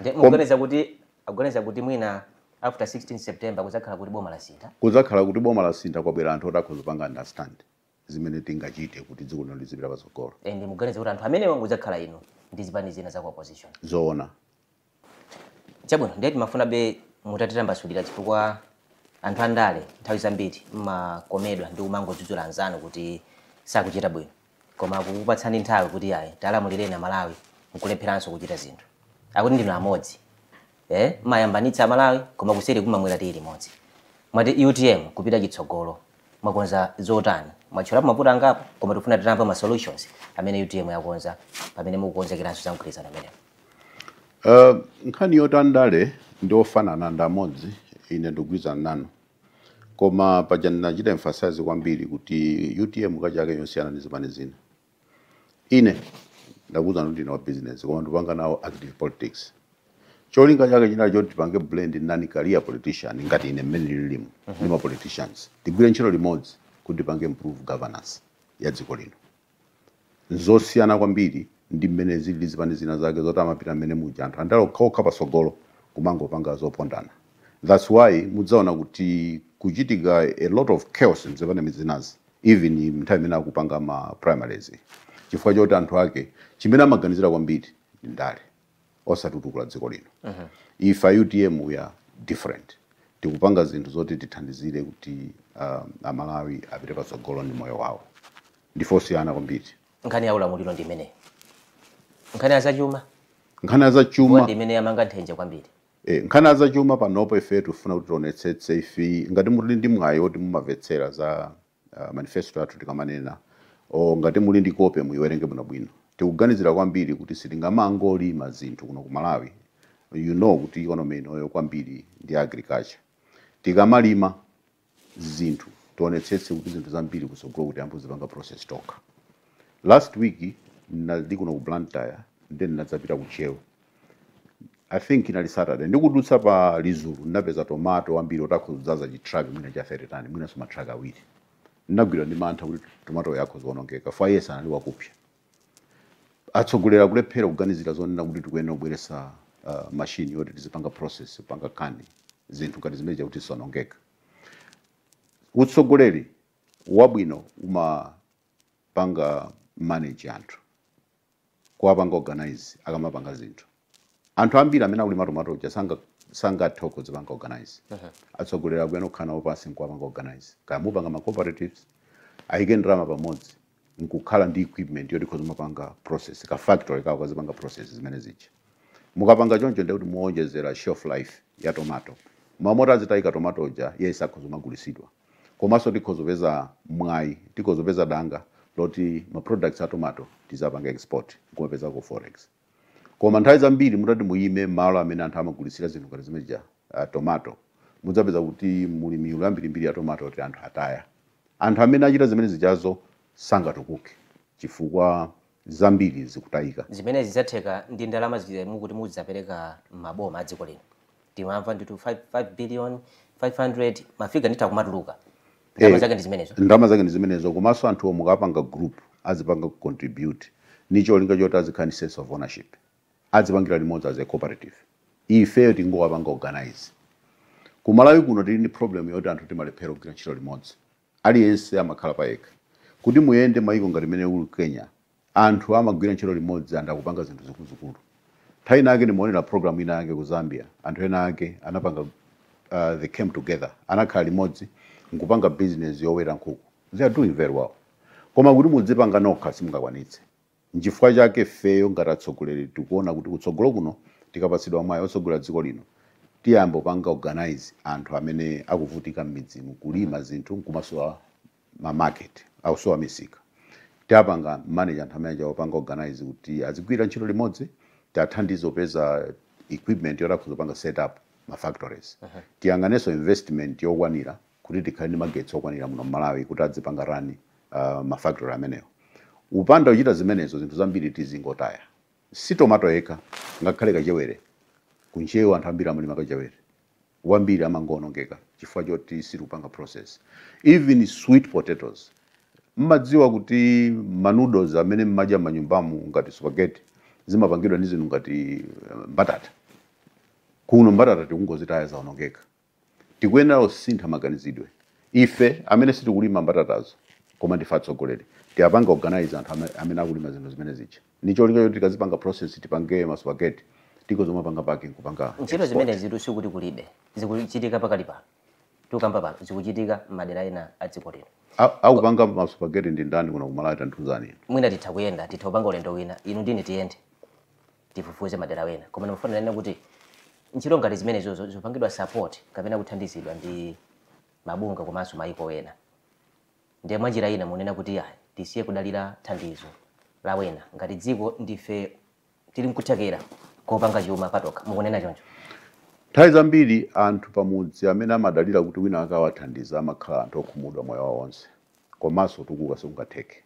Speaker 2: Nde mukuganiza kuti
Speaker 1: akuganiza kuti mwina after 16 September kudzakhala kuti boma lasintha? Kudzakhala kuti boma
Speaker 2: lasintha kwabwera anthu oti akhoza kupanga understand. zimene tingachite kuti dziko lino lizipita patsogolo and muganiza kuti
Speaker 1: anthu amenewa mudzakhala inu ndi zipani zina za ku opposition zoona chabwino ndiye timafunabe mutatitambasulira chifukwa anthu andale nthawi zambiri mmakomedwa ndi kumangodzudzula anzanu kuti sakuchita bwino koma kukupatsani nthawi kuti ayi talamulireni amalawi nkulepheranso kuchita zinthu akuti ndinu amodzi ee mmayambanitsa amalawi koma kuseri mumamwera tiyi limodzi mwati utm kupita chitsogolo mwakonza zotani mwatchulapo mavuto angapo koma tikufuna titamva ma solutions amene utm yakonza pamene mukukonzekeranso za mgwirizano umenewu Uh, nkhani yoti
Speaker 2: andale ndi ofanana ndi amodzi ine ndikugwirizana nanu koma paja ndinachita emphasize kwambiri kuti utm ikachake yosiyana ndi zipani zina ine ndakuuzani ndine wa business koma ndipanga nawo active politics cholinga chake chinali choti tipange blend nani career politician ngati ine mmene ndililimu ndi ma politicians tigwire ntchito limodzi kuti tipange improve governance ya dziko lino ndi zosiyana kwambiri ndi mmene zilili zipani zinazake zoti amapita mmene muja anthu andala okhaokha patsogolo kumangopanga zopondana thats why mudzaona kuti kuchitika a lot of chaos mzipani zinazi even nthawi imene akupanga ma primaries chifukwa choti anthu ake chimene amaganizira kwambiri ndi ndale osatutukula dziko lino ife a utm we are different tikupanga zinthu zoti tithandizire kuti um, amalawi apite patsogolo ndi moyo wawo ndife osiyana kwambiri nkhani ya ulamuliro
Speaker 1: ndi imeneyi nkhani ya zachuma nkhani ya zachuma
Speaker 2: ndi imene yamanga nthenje
Speaker 1: kwambiri E, nkhani ya
Speaker 2: zachuma panopo ifeyo tikufuna kuti tionetsetse ife ngati muli ndi mwayi woti mumamvetsera za ah, manifesto athu tikamanena o ngati muli ndi kope muiwerenge bwinobwino tikuganizira kwambiri kuti sitingamangolima zinthu kuno ku malawi you know kuti economy inoyo kwambiri ndi agriculture tikamalima zinthu tionetsetse kuti zinthu zambiri kutsogoloku tiyambe kuzipanga process tokha last week ndinali kuno ku blantyre nde ndinadzapita ku ntcheu i think inali saturday ndikudutsa pa lizulu ndinapeza tomato ambiri oti akhoza kudzaza chitrak mwina cha 30 tani mwinanso matrak awiri ndinagwidwa ndi mantha kuti tomatoyu akhoza kuonongeka chifukwa yense anali wakupsa atsogoleri akulephera kuganizira zonena kuti tikuyenera kubweretsa uh, machine yoti tizipanga process kupanga can zinthu ngati zimene zija kuti zisaonongeke utsogoleri wabwino umapanga manage anthu kuwapanga organize akamapanga zinthu anthu ambiri amene akulima tomato uja sanga sangathe kudzipanga organize atsogoleri akuyenera kukhala nawo pansi nkuwapanga organize kaya mupanga ma cooperatives ayike ndalama pamodzi nkukhala ndi equipment yoti ikhoza kumapanga process ka factory kawo kazipanga process zimene zija mukapanga choncho ndiye kuti muwonjezera shelf life ya tomato mmalo moti azitayika tomato uja iyayi akhoza kumagulitsidwa komanso tikhoza kupeza mwayi tikhoza kupeza danga loti ma products a tomato tizipanga export nkumapezako forex Koma nthawi zambiri mutati muyime malo amene anthu amagulitsira zinthu ngati zimene zija, ah, tomato, mudzapeza kuti muli miyulu yambirimbiri ya tomato yoti anthu ataya. Anthu amene achita zimene zijazo sangatukuke chifukwa zambiri zikutayika. Zimenezi zidzatheka
Speaker 1: ndi ndalama zija mukuti muzidzapereka m'maboma a dziko lino. Timamva ndithu 5, 5 billion, 500, mafiga ndithu akumatuluka. ndalama zake ndi zimenezo ndalama zake ndi
Speaker 2: zimenezo komanso anthuwo mukawapanga group azipanga contribute ni cholinga choti azikhala ni sense of ownership azipangira limodzi as a cooperative ifeyo tingowapanga organize ku malawi kuno tili ndi problem yoti anthu timalephera kugwira ntchito limodzi aliyense amakhala payekha kuti muyende maiko ngati mene uli kenya Anthu amagwira ntchito limodzi and akupanga zinthu zikuluzikulu. Nthawi ina yake ndimaonera program ina yake ku Zambia, anthu ena ake anapanga uh, they came together, anakhala limodzi nkupanga business yoweta nkhuku. They are doing very well. Koma kuti mudzipanga nokha simungakwanitse. Nchifukwa chake ifeyo ngati atsogoleri tikuona kuti kutsogolo kuno tikapatsidwa mwayi otsogolera dziko lino tiyamba kupanga organize anthu amene akuvutika m'midzimu, kulima zinthu nkumasowa ma market akusowa misika tiwapanga manage anthu amene aja kuwapanga organize kuti azigwira ntchito limodzi tiathandize kupeza equipment yoti akhoza kupanga set up ma factories tiyang'anenso investment yokwanira kuti tikhale ndi magetsi okwanira muno malawi kuti adzipanga rani uh, ma factory amenewo kupanda kuchita zimenezo zinthu zambiri tizingotaya si tomato yekha ngakhale kachewere ku ntcheu anthu ambiri amalima kachewere wambiri amangoonongeka chifukwa choti sitikupanga process even sweet potatoes mmadziwa kuti ma noodles amene mmadya manyumbamu ngati spaghetti zimapangidwa ndi zinthu ngati eh, mbatata kuno mbatata tikungozitaya zaonongeka tikuyenera kusintha maganizidwe ife amene sitikulima mbatatazo koma ndife atsogoleri tiwapanga organize anthu ame- amene akulima zinthu zimene zija ndi cholinga choti tikazipanga process tipange ma spaghetti tikhoza kumapanga package nkupanga export. zimenezitu
Speaker 1: sikuti kulibe zikuchitika pakali pano tikukamba pano zikuchitika m'madera ena a dziko lino A- akupanga ma
Speaker 2: spaghetti ndi ndani kuno kumalawi tandiuzani inu mwina titha
Speaker 1: kuyenda titha kupanga ulendo wina inu ndi ine tiyende tifufuze madera wena koma ndimafuna ndinene kuti ntchito ngati zimenezozo zikupangidwa support kapena kuthandizidwa ndi mabungwe komanso mayiko wena Ndiye mwanjira ina mukunena kuti ayi tisiye kudalira thandizo la wena ngati dziko ndife tili nkuthekera kopanga chuma patokha, mukunena choncho? Nthawi
Speaker 2: zambiri anthu pamudzi amene amadalira kuti wina wake awathandize amakhala anthu okhumudwa moyo wawo onse komanso kutukuka sikungatheke.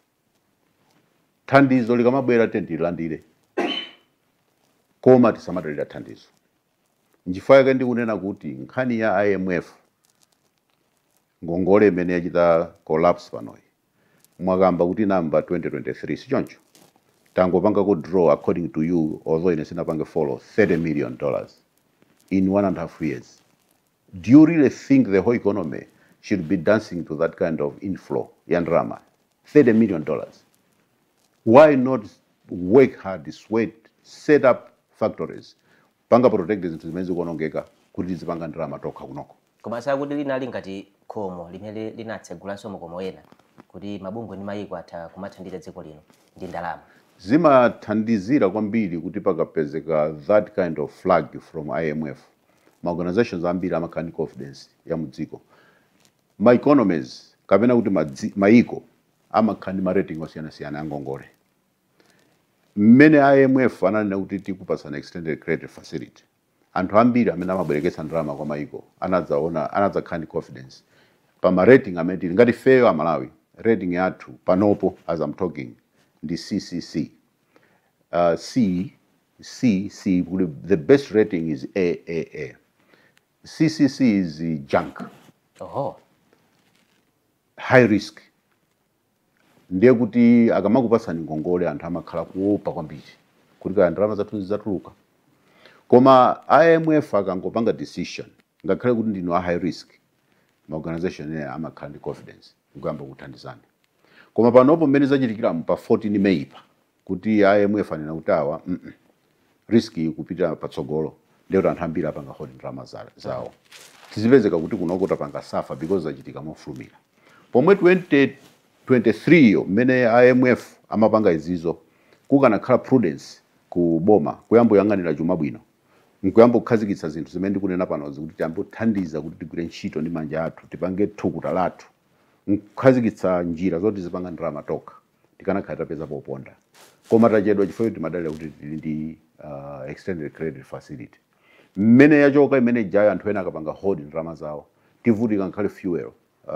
Speaker 2: Thandizo likamabwera tiyeni tililandire koma tisamadalira thandizo. Nchifukwa chake ndikunena kuti nkhani ya IMF ngongole imene yachita collapse panoyi mwakamba kuti inayamba 2023 sichoncho tangopangako draw according to you although ine sinapange follow 30 million dollars in one and a half years do you really think the whole economy should be dancing to that kind of inflow ya ndalama 30 million dollars why not work hard sweat set up factories panga protect zinthu zimene zikuonongeka kuti tizipanga ndalama tokha kunoko. Komanso akuti
Speaker 1: linali ngati khomo limene linatsegulanso makomo ena kuti mabungwe ndi mayiko atha kumathandiza dziko lino ndi ndalama. Zimathandizira
Speaker 2: kwambiri kuti pakapezeka that kind of flag from IMF, ma organisations ambiri amakhala ndi confidence ya mu dziko. Ma economies kapena kuti mayiko amakhala ndi ma rating osiyanasiyana a ngongole. mmene IMF ananena kuti tikupatsani extended credit facility, anthu ambiri amene amabwereketsa ndalama kwa mayiko anadzaona, anadzakhala ndi confidence pa ma rating amene tili. Ngati ifeyo a Malawi, rating yathu panopo as I'm talking ndi CCC, uh, C, C, C, kuti the best rating is AAA. CCC is junk, Oho. high risk. ndiye kuti akamakupatsani ngongole anthu amakhala kuopa kwambiri kuti kaya ndalama zathu zidzatuluka koma imf akangopanga decision ngakhale kuti ndinu a high risk maorganization ena amakhala ndi confidence nkuyamba kuthandizani koma panopo mmene zachitikiramu pa 14 May pa kuti a IMF anena kuti awa mm -mm. risk ikupita patsogolo ndiye kuti anthu ambiri apanga hold ndalama zawo tizipezeka kuti kunoko tapanga safa because zachitika mofulumira pomwe 2023 yo mmene IMF amapanga izizo kukanakhala prudence ku boma kuyamba kuyang'anira chuma bwino nkuyamba kukhazikitsa zinthu zimene ndikunena panozi kuti tiyambe kuthandiza kuti tigwire ntchito ndi manja athu tipange thukuta lathu nkukhazikitsa njira zoti tizipanga ndalama tokha tikanakhala tapeza poponda koma tachedwa chifukwa choti timadalira kuti tili ndi uh, extended credit facility mmene yachoka imene ijayo anthu ena akapanga hold ndalama zawo tivutika ngakhale fuel uh,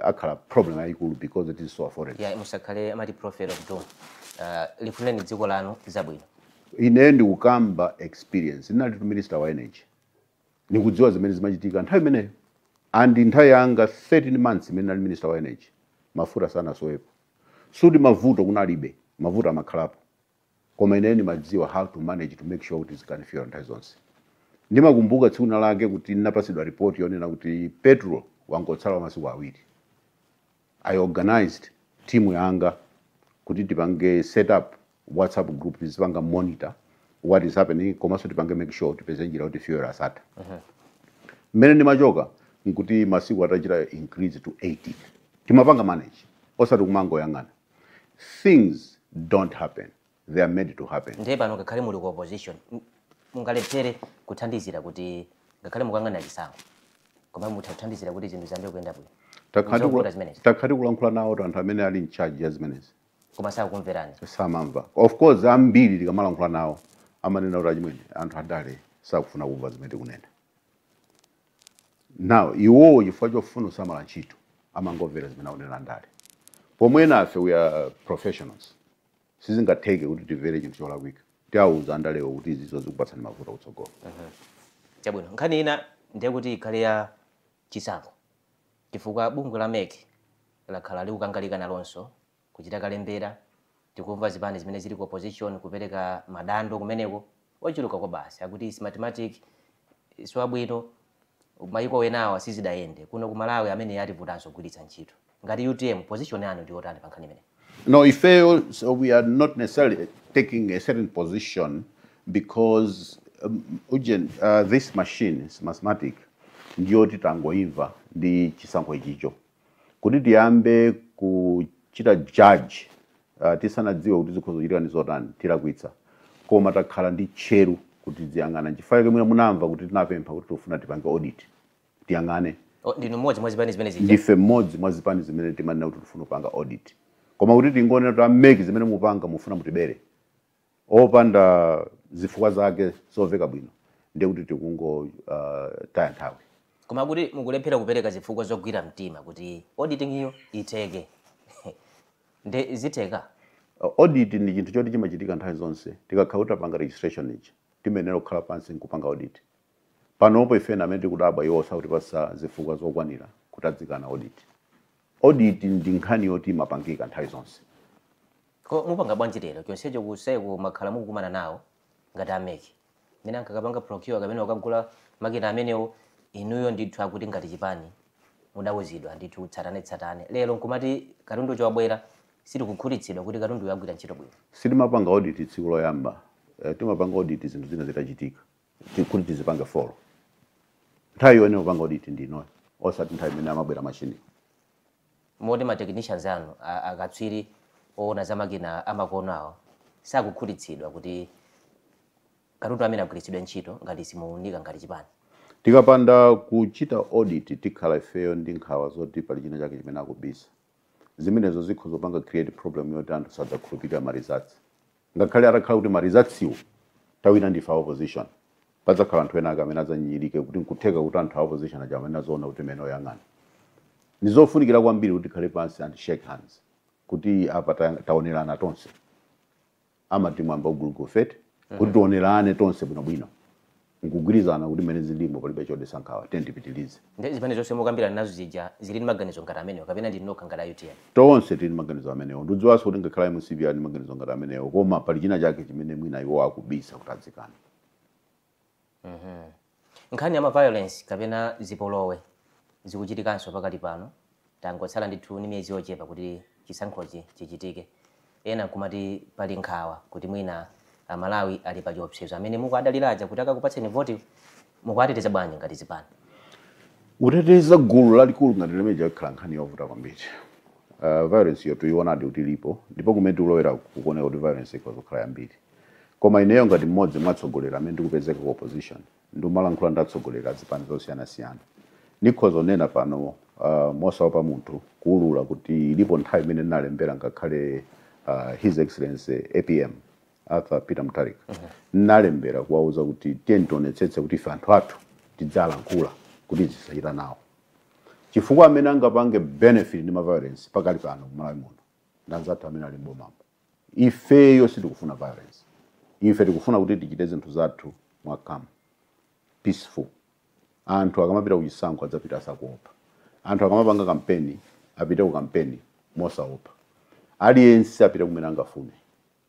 Speaker 2: akhala problem yayikulu because it is so unaffordable yeah, musakhale amati
Speaker 1: prophet of doom uh, lifuneni dziko lanu zabwino ine
Speaker 2: ndikukamba experience ndinali tu minister wa energy Ndikudziwa zimene zimachitika nthawi imeneyo and nthawi yanga 13 months imene nali minister wa energy mafuta sanasowepo. Suti mavuto kunalibe, mavuto amakhalapo koma ineyo ndimadziwa how to manage to make sure kuti tizikhala ndi fuel nthawi zonse. Ndimakumbuka tsiku lina lake kuti ndinapasidwa report yonena kuti petrol wangotsala wa masiku awiri. I organized team yanga kuti tipange set up whatsapp group tizipanga monitor what is happening komanso tipange make sure tipeze njira kuti fuel asathe mmene ndimachoka nkuti masiku atachita increase to 18 timapanga manage osati kumangoyang'ana things don't happen they are made to happen. ndiye pano ngakhale muli
Speaker 1: ku opposition m- mungalephere kuthandizira kuti ngakhale mukuyang'anira chisankho koma mutha kuthandizira kuti zinthu ziyambe kuyenda bwino Takhala Zovuta tikula- zimenezi
Speaker 2: takhala tikulankhula nawo to anthu amene ali in charge ya zimenezi koma sakukumverani
Speaker 1: samamva
Speaker 2: of course ambiri tikamalankhula nawo amanena kuti achimwene anthu andale sakufuna kumva zimene tikunena now iwowo chifukwa chofuna kusamala ntchito amangomvera zimene akunena andale pomwe nafe we are professionals sizingatheke kuti timvere chinthu cholakwika tiawuza andalewo kuti izizo zikupatsani mavuto kutsogolo Chabwino,
Speaker 1: nkhani ina ndiye kuti ikhale ya chisankho chifukwa bungwe la mec lakhala likukangalika nalonso kuchita kalembera tikumva zipani zimene zili ku opposition kupereka madandaulo kumeneko Ochuluka kwabasi akuti smartmatic siwabwino, mayiko enawa sizidayende, kuno ku Malawi ameneyi ativutanso kugwiritsa ntchito. Ngati utm, position yanu ndiyotani pa nkhani imeneyi? No, ifeyo
Speaker 2: we are not necessarily taking a certain position because um, ujen, uh, this machine smartmatic ndiyoti tangoimva ndi chisankho ichicho Kuti tiyambe kuchita judge tisanadziwe kuti zikhoza kuchitika ndi zotani, tilakwitsa. Koma takhala ndi tcheru kuti tiziyang'ana. Nchifukwa chake mwina munamva kuti tinapempha kuti tikufuna tipange audit, tiyang'ane. Oh, ndinu mmodzi
Speaker 1: mwa zipani zimene zija? Ndife mmodzi mwa
Speaker 2: zipani zimene timanena kuti tikufuna kupanga audit. Koma kuti tingonena kuti a mec zimene mukupanga mukufuna mutibere. opanda zifukwa zake zomveka bwino ndiye kuti tikungotaya nthawi koma
Speaker 1: kuti mukulephera kupereka zifukwa zogwira mtima kuti auditing iyo itheke nde zitheke Uh, audit ndi
Speaker 2: chinthu choti chimachitika nthawi zonse tikakhala kuti tapanga registration ichi timayenera kukhala pansi nkupanga audit panopo ife ndi amene tikudabwa iwo sakutipatsa zifukwa zokwanira kuti adzikana audit audit ndi nkhani yoti imapangika nthawi zonse
Speaker 1: Ko mupanga bwanji lero? Chonsecho ku CECC mwakhala mukukumana nawo ngati a mec mmene ankakapanga procure kapena kukagula makina amenewo? Inuyo ndithu akuti ngati chipani mudauzidwa ndithu tsatanetsatane. Lero nkumati katundu uja wabwera? Sitikukhutitsidwa kuti katunduyo agwira ntchito bwino. Sitimapanga
Speaker 2: audit tsiku loyamba. Timapanga audit zinthu zina zitachitika kuti tizipange follow. Nthawi yoyenera kupanga audit ndi inoyo osati nthawi imene amabwera mashiniwo.
Speaker 1: Moti ma technicians anu, akatswiri owona za makina amakono awo, sakukhutitsidwa kuti katundu amene agwiritsidwe ntchito ngati simuunika ngati chipani?
Speaker 2: Tikapanda kuchita audit tikhala ifeyo ndi nkhawa zoti pali china chake chimene akubisa. Zimenezo zikhoza kupanga create problem yoti anthu sadzakhulupirira ma results. Ngakhale atakhala kuti ma results wo tawina ndife a opposition, padzakhala anthu enaake amene adzanyinyirike kuti nkutheka kuti anthu a opposition aja amanena zoona kuti mmenemo yang'anani. Ndizofunikira kwambiri kuti tikhale pansi and shake hands kuti apa tayang taonerana tonse. Amati mwambi wa gulugufe eti? Kuti tionerane tonse bwinobwino. Nkugwirizana kuti mmene zililimo palibe chodetsa nkhawa tiyeni tipitilize. Nde zipani
Speaker 1: zonse mukambirana nazo zija zili ndi maganizo ngati amenewo kapena ndinu nokha ngati a utm? Tonse tili ndi maganizo
Speaker 2: amenewo. Ndikudziwanso kuti ngakhale a mcp ali ndi maganizo ngati amenewo koma pali china chake chimene mwina iwowo akubisa kuti
Speaker 1: adzikane. Nkhani ya ma violence kapena zipolowe zikuchitikanso pakali pano? Tangotsala ndithu ndi miyezi yochepa kuti chisankhochi chichitike, ena nkumati pali nkhawa kuti mwina Amalawi ali pachiwopsezo. Amene mukuwadalira aja kuti akakupatseni voti mukuwateteza bwanji ngati zipani?
Speaker 2: Kuteteza gulu lalikulu ngati limeneli yakhala nkhani yovuta kwambiri. Violence-yo tuionadi kuti ilipo ndipo kumene tikulowerako kukuoneka kuti violence ikhoza kukhala yambiri. Koma ineyo ngati mmodzi mwa atsogoleri amene ndikupezeka ku opposition, ndimalankhula ndi atsogoleri a zipani zosiyanasiyana, ndikhoza kunena pano uh, mosaopa munthu kuulula kuti ilipo nthawi imene ndinalembera ngakhale uh, his excellency apm Arthur Peter Mutharika nalembera kuwauza kuti tiyeni tionetsetse kuti ife anthu athu tizilankhula kuti tisachite nawo chifukwa amene angapange benefit ndi ma violence pakali pano ku Malawi muno ndanzathu amene ali mbomamo ifeyo sitikufuna violence ife tikufuna kuti tichite zinthu zathu mwa calm peaceful anthu akamapita kuchisankho adzapite asakuopa anthu akamapanga kampeni apite ku kampeni mosaopa aliyense apite kumene angafune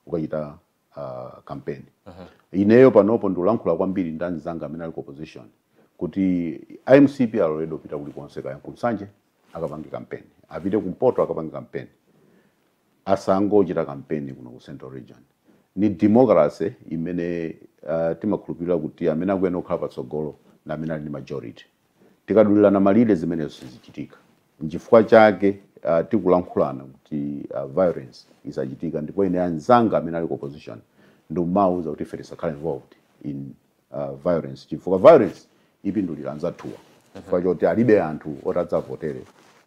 Speaker 2: ukachita uh, kampeni uh -huh. ineyo panopo ndikulankhula kwambiri ndi anzanga amene ali ku opposition kuti MCP aloledwe kupita kulikonse kaya ku Nsanje akapange kampeni apite kumpoto akapange kampeni asangochita kampeni kuno ku central region. Ni democracy imene timakhulupirira kuti amene akuyenera kukhala patsogolo ndi amene ali ndi majority. Tikadulirana malire zimenezo zizichitika. N'chifukwa chake tikulankhulana kuti violence isachitike ndipo ine anzanga amene ali ku opposition ndikumawauza kuti ife tisakhale involved in uh, violence chifukwa violence ipindulira anzathuwa chifukwa choti alibe anthu oti adzawavotere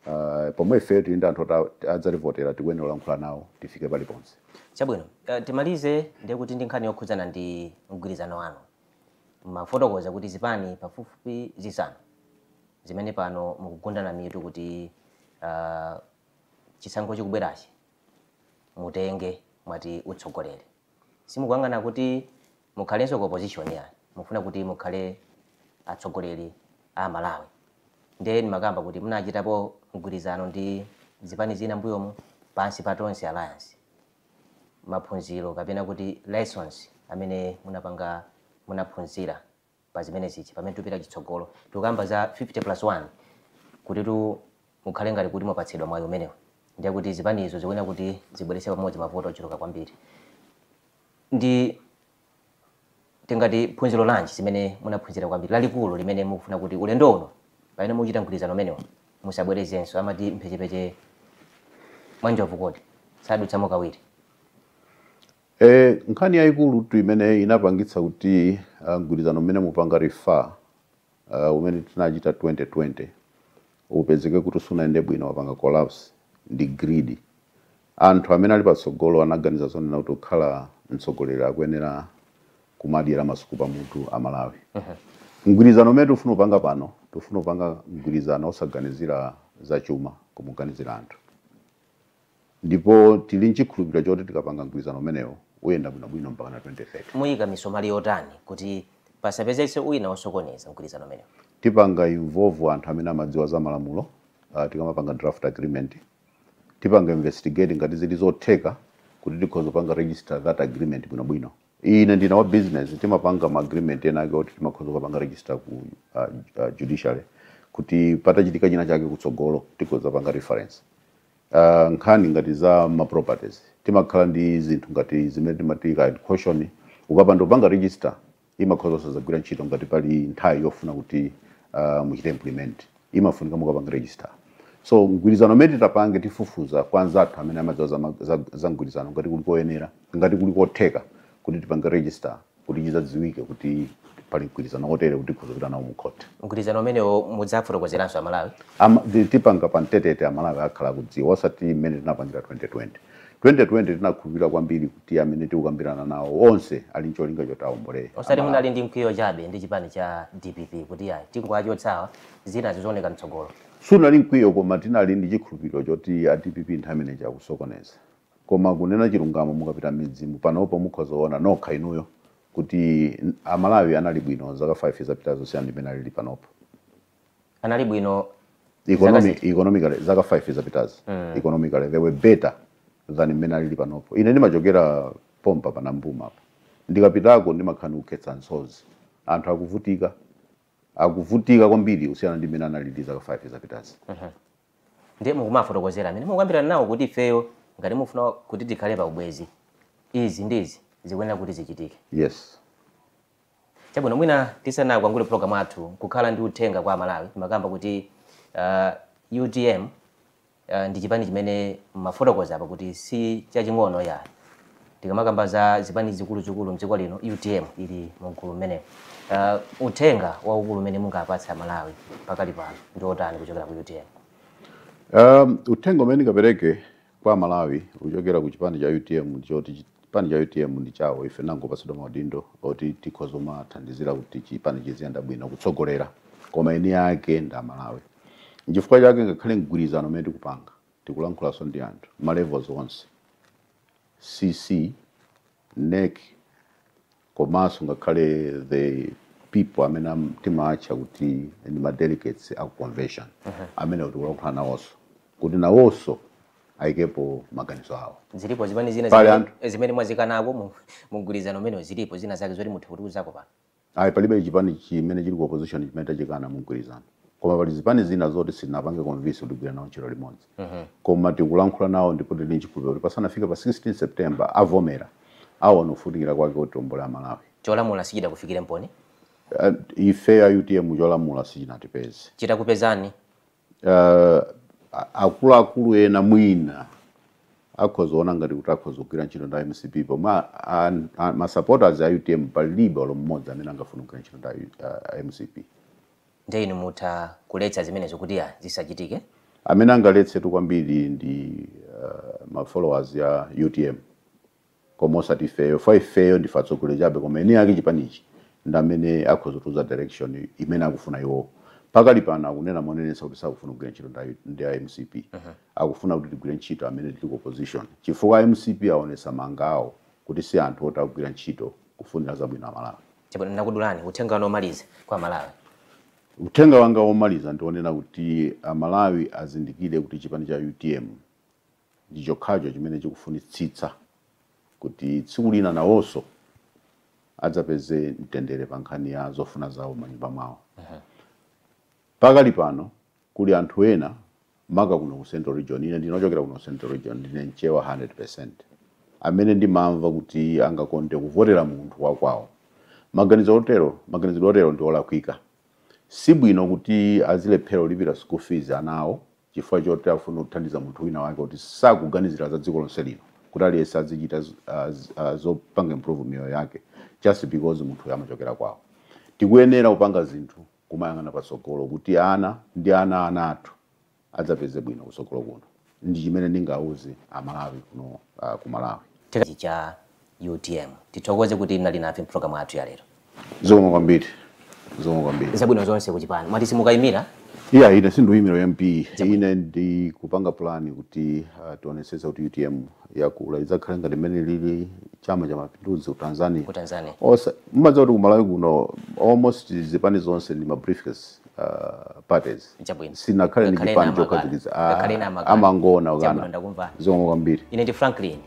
Speaker 2: uh, pomwe ife tili ndi anthu oti a- adzativotera tikuyenera kulankhula nawo tifike paliponse chabwino eh,
Speaker 1: timalize ndiye kuti ndi nkhani yokhudzana ndi mgwirizano wanu mwafotokoza kuti zipani pafupifupi zisanu zimene pano mukugundana mitu kuti ah, chisankho chikubwerachi mutenge mwati utsogoleri Simukuyang'ana kuti mukhalenso ku opposition yayi. Mufuna kuti mukhale atsogoleri a Malawi. Ndiye ndimakamba kuti munachitapo mgwirizano ndi zipani zina mbuyomu pansi pa Tonse Alliance. Maphunziro kapena kuti lessons amene munapanga munaphunzira pa zimenezi chi pamene tupita chitsogolo tikukamba za 50 plus 1 kutitu mukhale ngati kuti mwapatsidwa mwayi umenewu ndiye kuti zipanizo zikuyenera kuti zibweretse pamodzi mavoti ochuluka kwambiri ndi tingati phunziro lanji zimene munaphunzira kwambiri lalikulu limene mukufuna kuti ulendo uno pamene muchita mgwirizano umenewo musabwerezenso amati mphechepeche mwa njovu kodi sadutsamo kawiri
Speaker 2: E, nkhani yaikulutu imene inapangitsa kuti ah, mgwirizano umene mupanga refer ah, umene tinachita 2020 upezeke kuti sunayende bwino wapanga collapse ndi greed anthu amene ali patsogolo anaganiza zonena kuti kukhala mtsogoleri akuyenera kumadyera masuku pamutu a malawi mgwirizano umene tifuna kupanga pano tifuna kupanga mgwirizano osaganizira zachuma koma kuganizira anthu Ndipo tili n'chikhulupiriro choti tikapanga mgwirizano umenewo, uyenda bwinobwino mpakana 2030. Muyika
Speaker 1: misomali yotani kuti pasapezetse wina osokoneza mgwirizano umenewo? Tipanga involve
Speaker 2: anthu amene amadziwa za malamulo tikamapanga draft agreement. Tipanga investigate ngati zili zotheka kuti tikhoza kupanga register that agreement bwinobwino. Ine ndine wa business, timapanga ma agreement ena ake oti timakhoza kupanga register ku judiciary kuti patachitika chinachake kutsogolo tikhoza kupanga reference. Uh, nkhani ngati za ma properties timakhala ndi zinthu ngati zimene timati ka caution ukapanda kupanga register imakhoza osazagwira ntchito ngati pali nthawi yofuna kuti uh, muchite implement imafunika mukapanga register so mgwirizano umene titapange tifufuza kwa anzathu amene amadziwa za, ma- za, za mgwirizano ngati kuli koyenera ngati kuli kotheka kuti tipange register kuti chidzadziwike kuti pali mgwirizano wotere kuti tikhoza kupita nawo mu khoti mgwirizano
Speaker 1: umenewo mudzafotokozeranso amalawi Ama- ti- tipanga pa
Speaker 2: mbetete amalawi akhala akudziwa osati mmene tinapangira 2020 2020 tinakhulupirira kwambiri kuti amene tikukambirana nawo onse ali ncholinga choti aombole osati munali ndi
Speaker 1: mkwiyo chabe ndi chipani cha dpp kuti ayi tingowachotsa awa zina zizioneka mtsogolo sunali mkwiyo
Speaker 2: koma tinali ndi chikhulupiriro choti a dpp nthawi imeneyi akusokoneza Koma kunena chilungamo mukapita mmidzimu panopo mukhoza kuona nokha inuyo kuti a Malawi anali bwino zaka 5 zapitazo kusiyana ndi mmene alili panopo. Anali
Speaker 1: bwino zaka ziti?
Speaker 2: Economically zaka 5 zapitazo economically they were better than mmene alili panopo. Ine ndimachokera pompa pa Nambuma apa. Ndikapitako ndimakhala ndikukhetsa msozi. Anthu akuvutika, akuvutika kwambiri kusiyana ndi mmene analili zaka 5 zapitazi.
Speaker 1: ndiye mukumafotokozera amene mukukambirana nawo kuti ifeyo ngati mufuna kuti tikhale pa ubwenzi izi ndi izi zikuyenera kuti zichitike yes chabwino mwina tisanakwangule program yathu kukhala ndi uthenga kwa amalawi timakamba kuti uh, utm uh, ndi chipani chimene mwafotokoza apa kuti si chaching'ono ya Tikamakamba za zipani zikuluzikulu mdziko lino utm ili mugulu limenelo. Uh, uthenga waukulu umene mungapatse a Malawi pakali pano ndi otani kuchokera ku utm? Um,
Speaker 2: uthenga umene ndingapereke kwa amalawi kuchokera ku chipani cha utm ndi woti chipani cha utm ndi chawo ife tinangopatsidwa maudindo oti tikhoza kumathandizira kuti chipani chiziyenda bwino kutsogolera koma eni ake ndi amalawi nchifukwa chake ngakhale mgwirizano umene tikupanga Tikulankhulaso ndi anthu ma levels onse, CC, nec komaso ngakhale the people amene timaatcha kuti ndi ma delegates aku convention amenewo tikulankhula nawoso kuti nawoso ayikepo maganizo awo. Zilipo zipani zina
Speaker 1: zimene mwazikanako mu mu mgwirizano umenewu, zilipo zina zake zoti muthe kutiuzako pano? Ayi palibe
Speaker 2: chipani chimene chili ku opposition chimene tachikana mumgwirizano koma pali zipani zina zoti sitinazipange convince kuti tigwire nawo ntchito limodzi koma tikulankhula nawo ndipo tili ndi chikhulupiriro kuti pasanafike pa 16 September avomera, aona kufunikira kwake kuti tiombole a Malawi. Cholamula sichidakufikirenimponi?
Speaker 1: Ifeyo
Speaker 2: a utm cholamula sichinatipeze. Chitakupezani Uh, akuluakulu ena mwina akhoza kuona ngati kuti akhoza kugwira ntchito ndi mcp pomwe masupporters a utm palibe olo mmodzi amene angafuna kugwira ntchito ndi
Speaker 1: uh, mcp nde inu
Speaker 2: mutha
Speaker 1: kuletsa zimenezo kuti
Speaker 2: zisachitike amene angaletsetu kwambiri ndi uh, mafollowers ya utm koma osati ifeyo chifukwa ifeyo ndife atsogoleri chabe koma eni ake chipanichi ndi amene akhoza kutiuza direction imene akufuna iwowo. Pakali pano akunena monenetsa kuti sakufuna kugwira ntchito ndi a ndi a mcp. Akufuna kuti tigwire ntchito amene tili ku opposition chifukwa a mcp aonetsa mawanga awo kuti si anthu oti akugwira ntchito kufunira zabwino Amalawi. Chabwino, ndakudulani.
Speaker 1: Uthenga wanu womaliza kwa Amalawi? Uthenga
Speaker 2: wanga womaliza ndi wonena kuti Amalawi azindikire kuti chipani cha utm. Ndi chokhacho chimene chikufunitsitsa kuti tsiku lina nawonso adzapeze mtendere pa nkhani ya zofuna zawo m'manyumba mwawo. Pakali pano kuli anthu ena maka kuno ku Central Region, ine ndine wochokera kuno ku Central Region, ndine Mchewa 100%, amene ndimamva kuti angakonde kuvotera munthu wa kwawo. Maganizo otero, maganizidwe otero ndi olakwika. Si bwino kuti azilephera kulipira school fees ana awo chifukwa choti akufuna kuthandiza munthu wina wake oti sakuganizira za dziko lonse lino kuti aliyense azichita z- ah, z- ah, zopanga improve miyoyo yake just because munthuyo amachokera kwawo tikuyenera kupanga zinthu kumayang'ana patsogolo kuti ana ndi ana a ana athu adzapeze bwino kutsogolo kuno ndi chimene ndingauze amalawi kuno ah, ku malawi Tikachicha
Speaker 1: utm. Tithokoze kuti mnali nafe mpulogalamu yathu ya lero. Zikomo
Speaker 2: kwambiri. Zikomo
Speaker 1: kwambiri. Zabwino zonse kuchipani. Mwati simukayimira? Iya ine
Speaker 2: sindikuyimira MP. Ine ndikupanga plan kuti uh, tionetsetse kuti UTM yakula idzakhale ngati mmene chilili chama cha mapinduzi ku Tanzania. Ku Tanzania. Osa mumadziwa kuti ku Malawi kuno almost zipani zonse ndi ma briefcase uh, parties. Chabwino. Sinakhale ndi Ngakhale chipani na makala. chokhazikika. Ngakhale na makala.
Speaker 1: Amangona Chabwino,
Speaker 2: ukana.
Speaker 1: ndakumva.
Speaker 2: Zikomo kwambiri.
Speaker 1: Ine ndi Franklin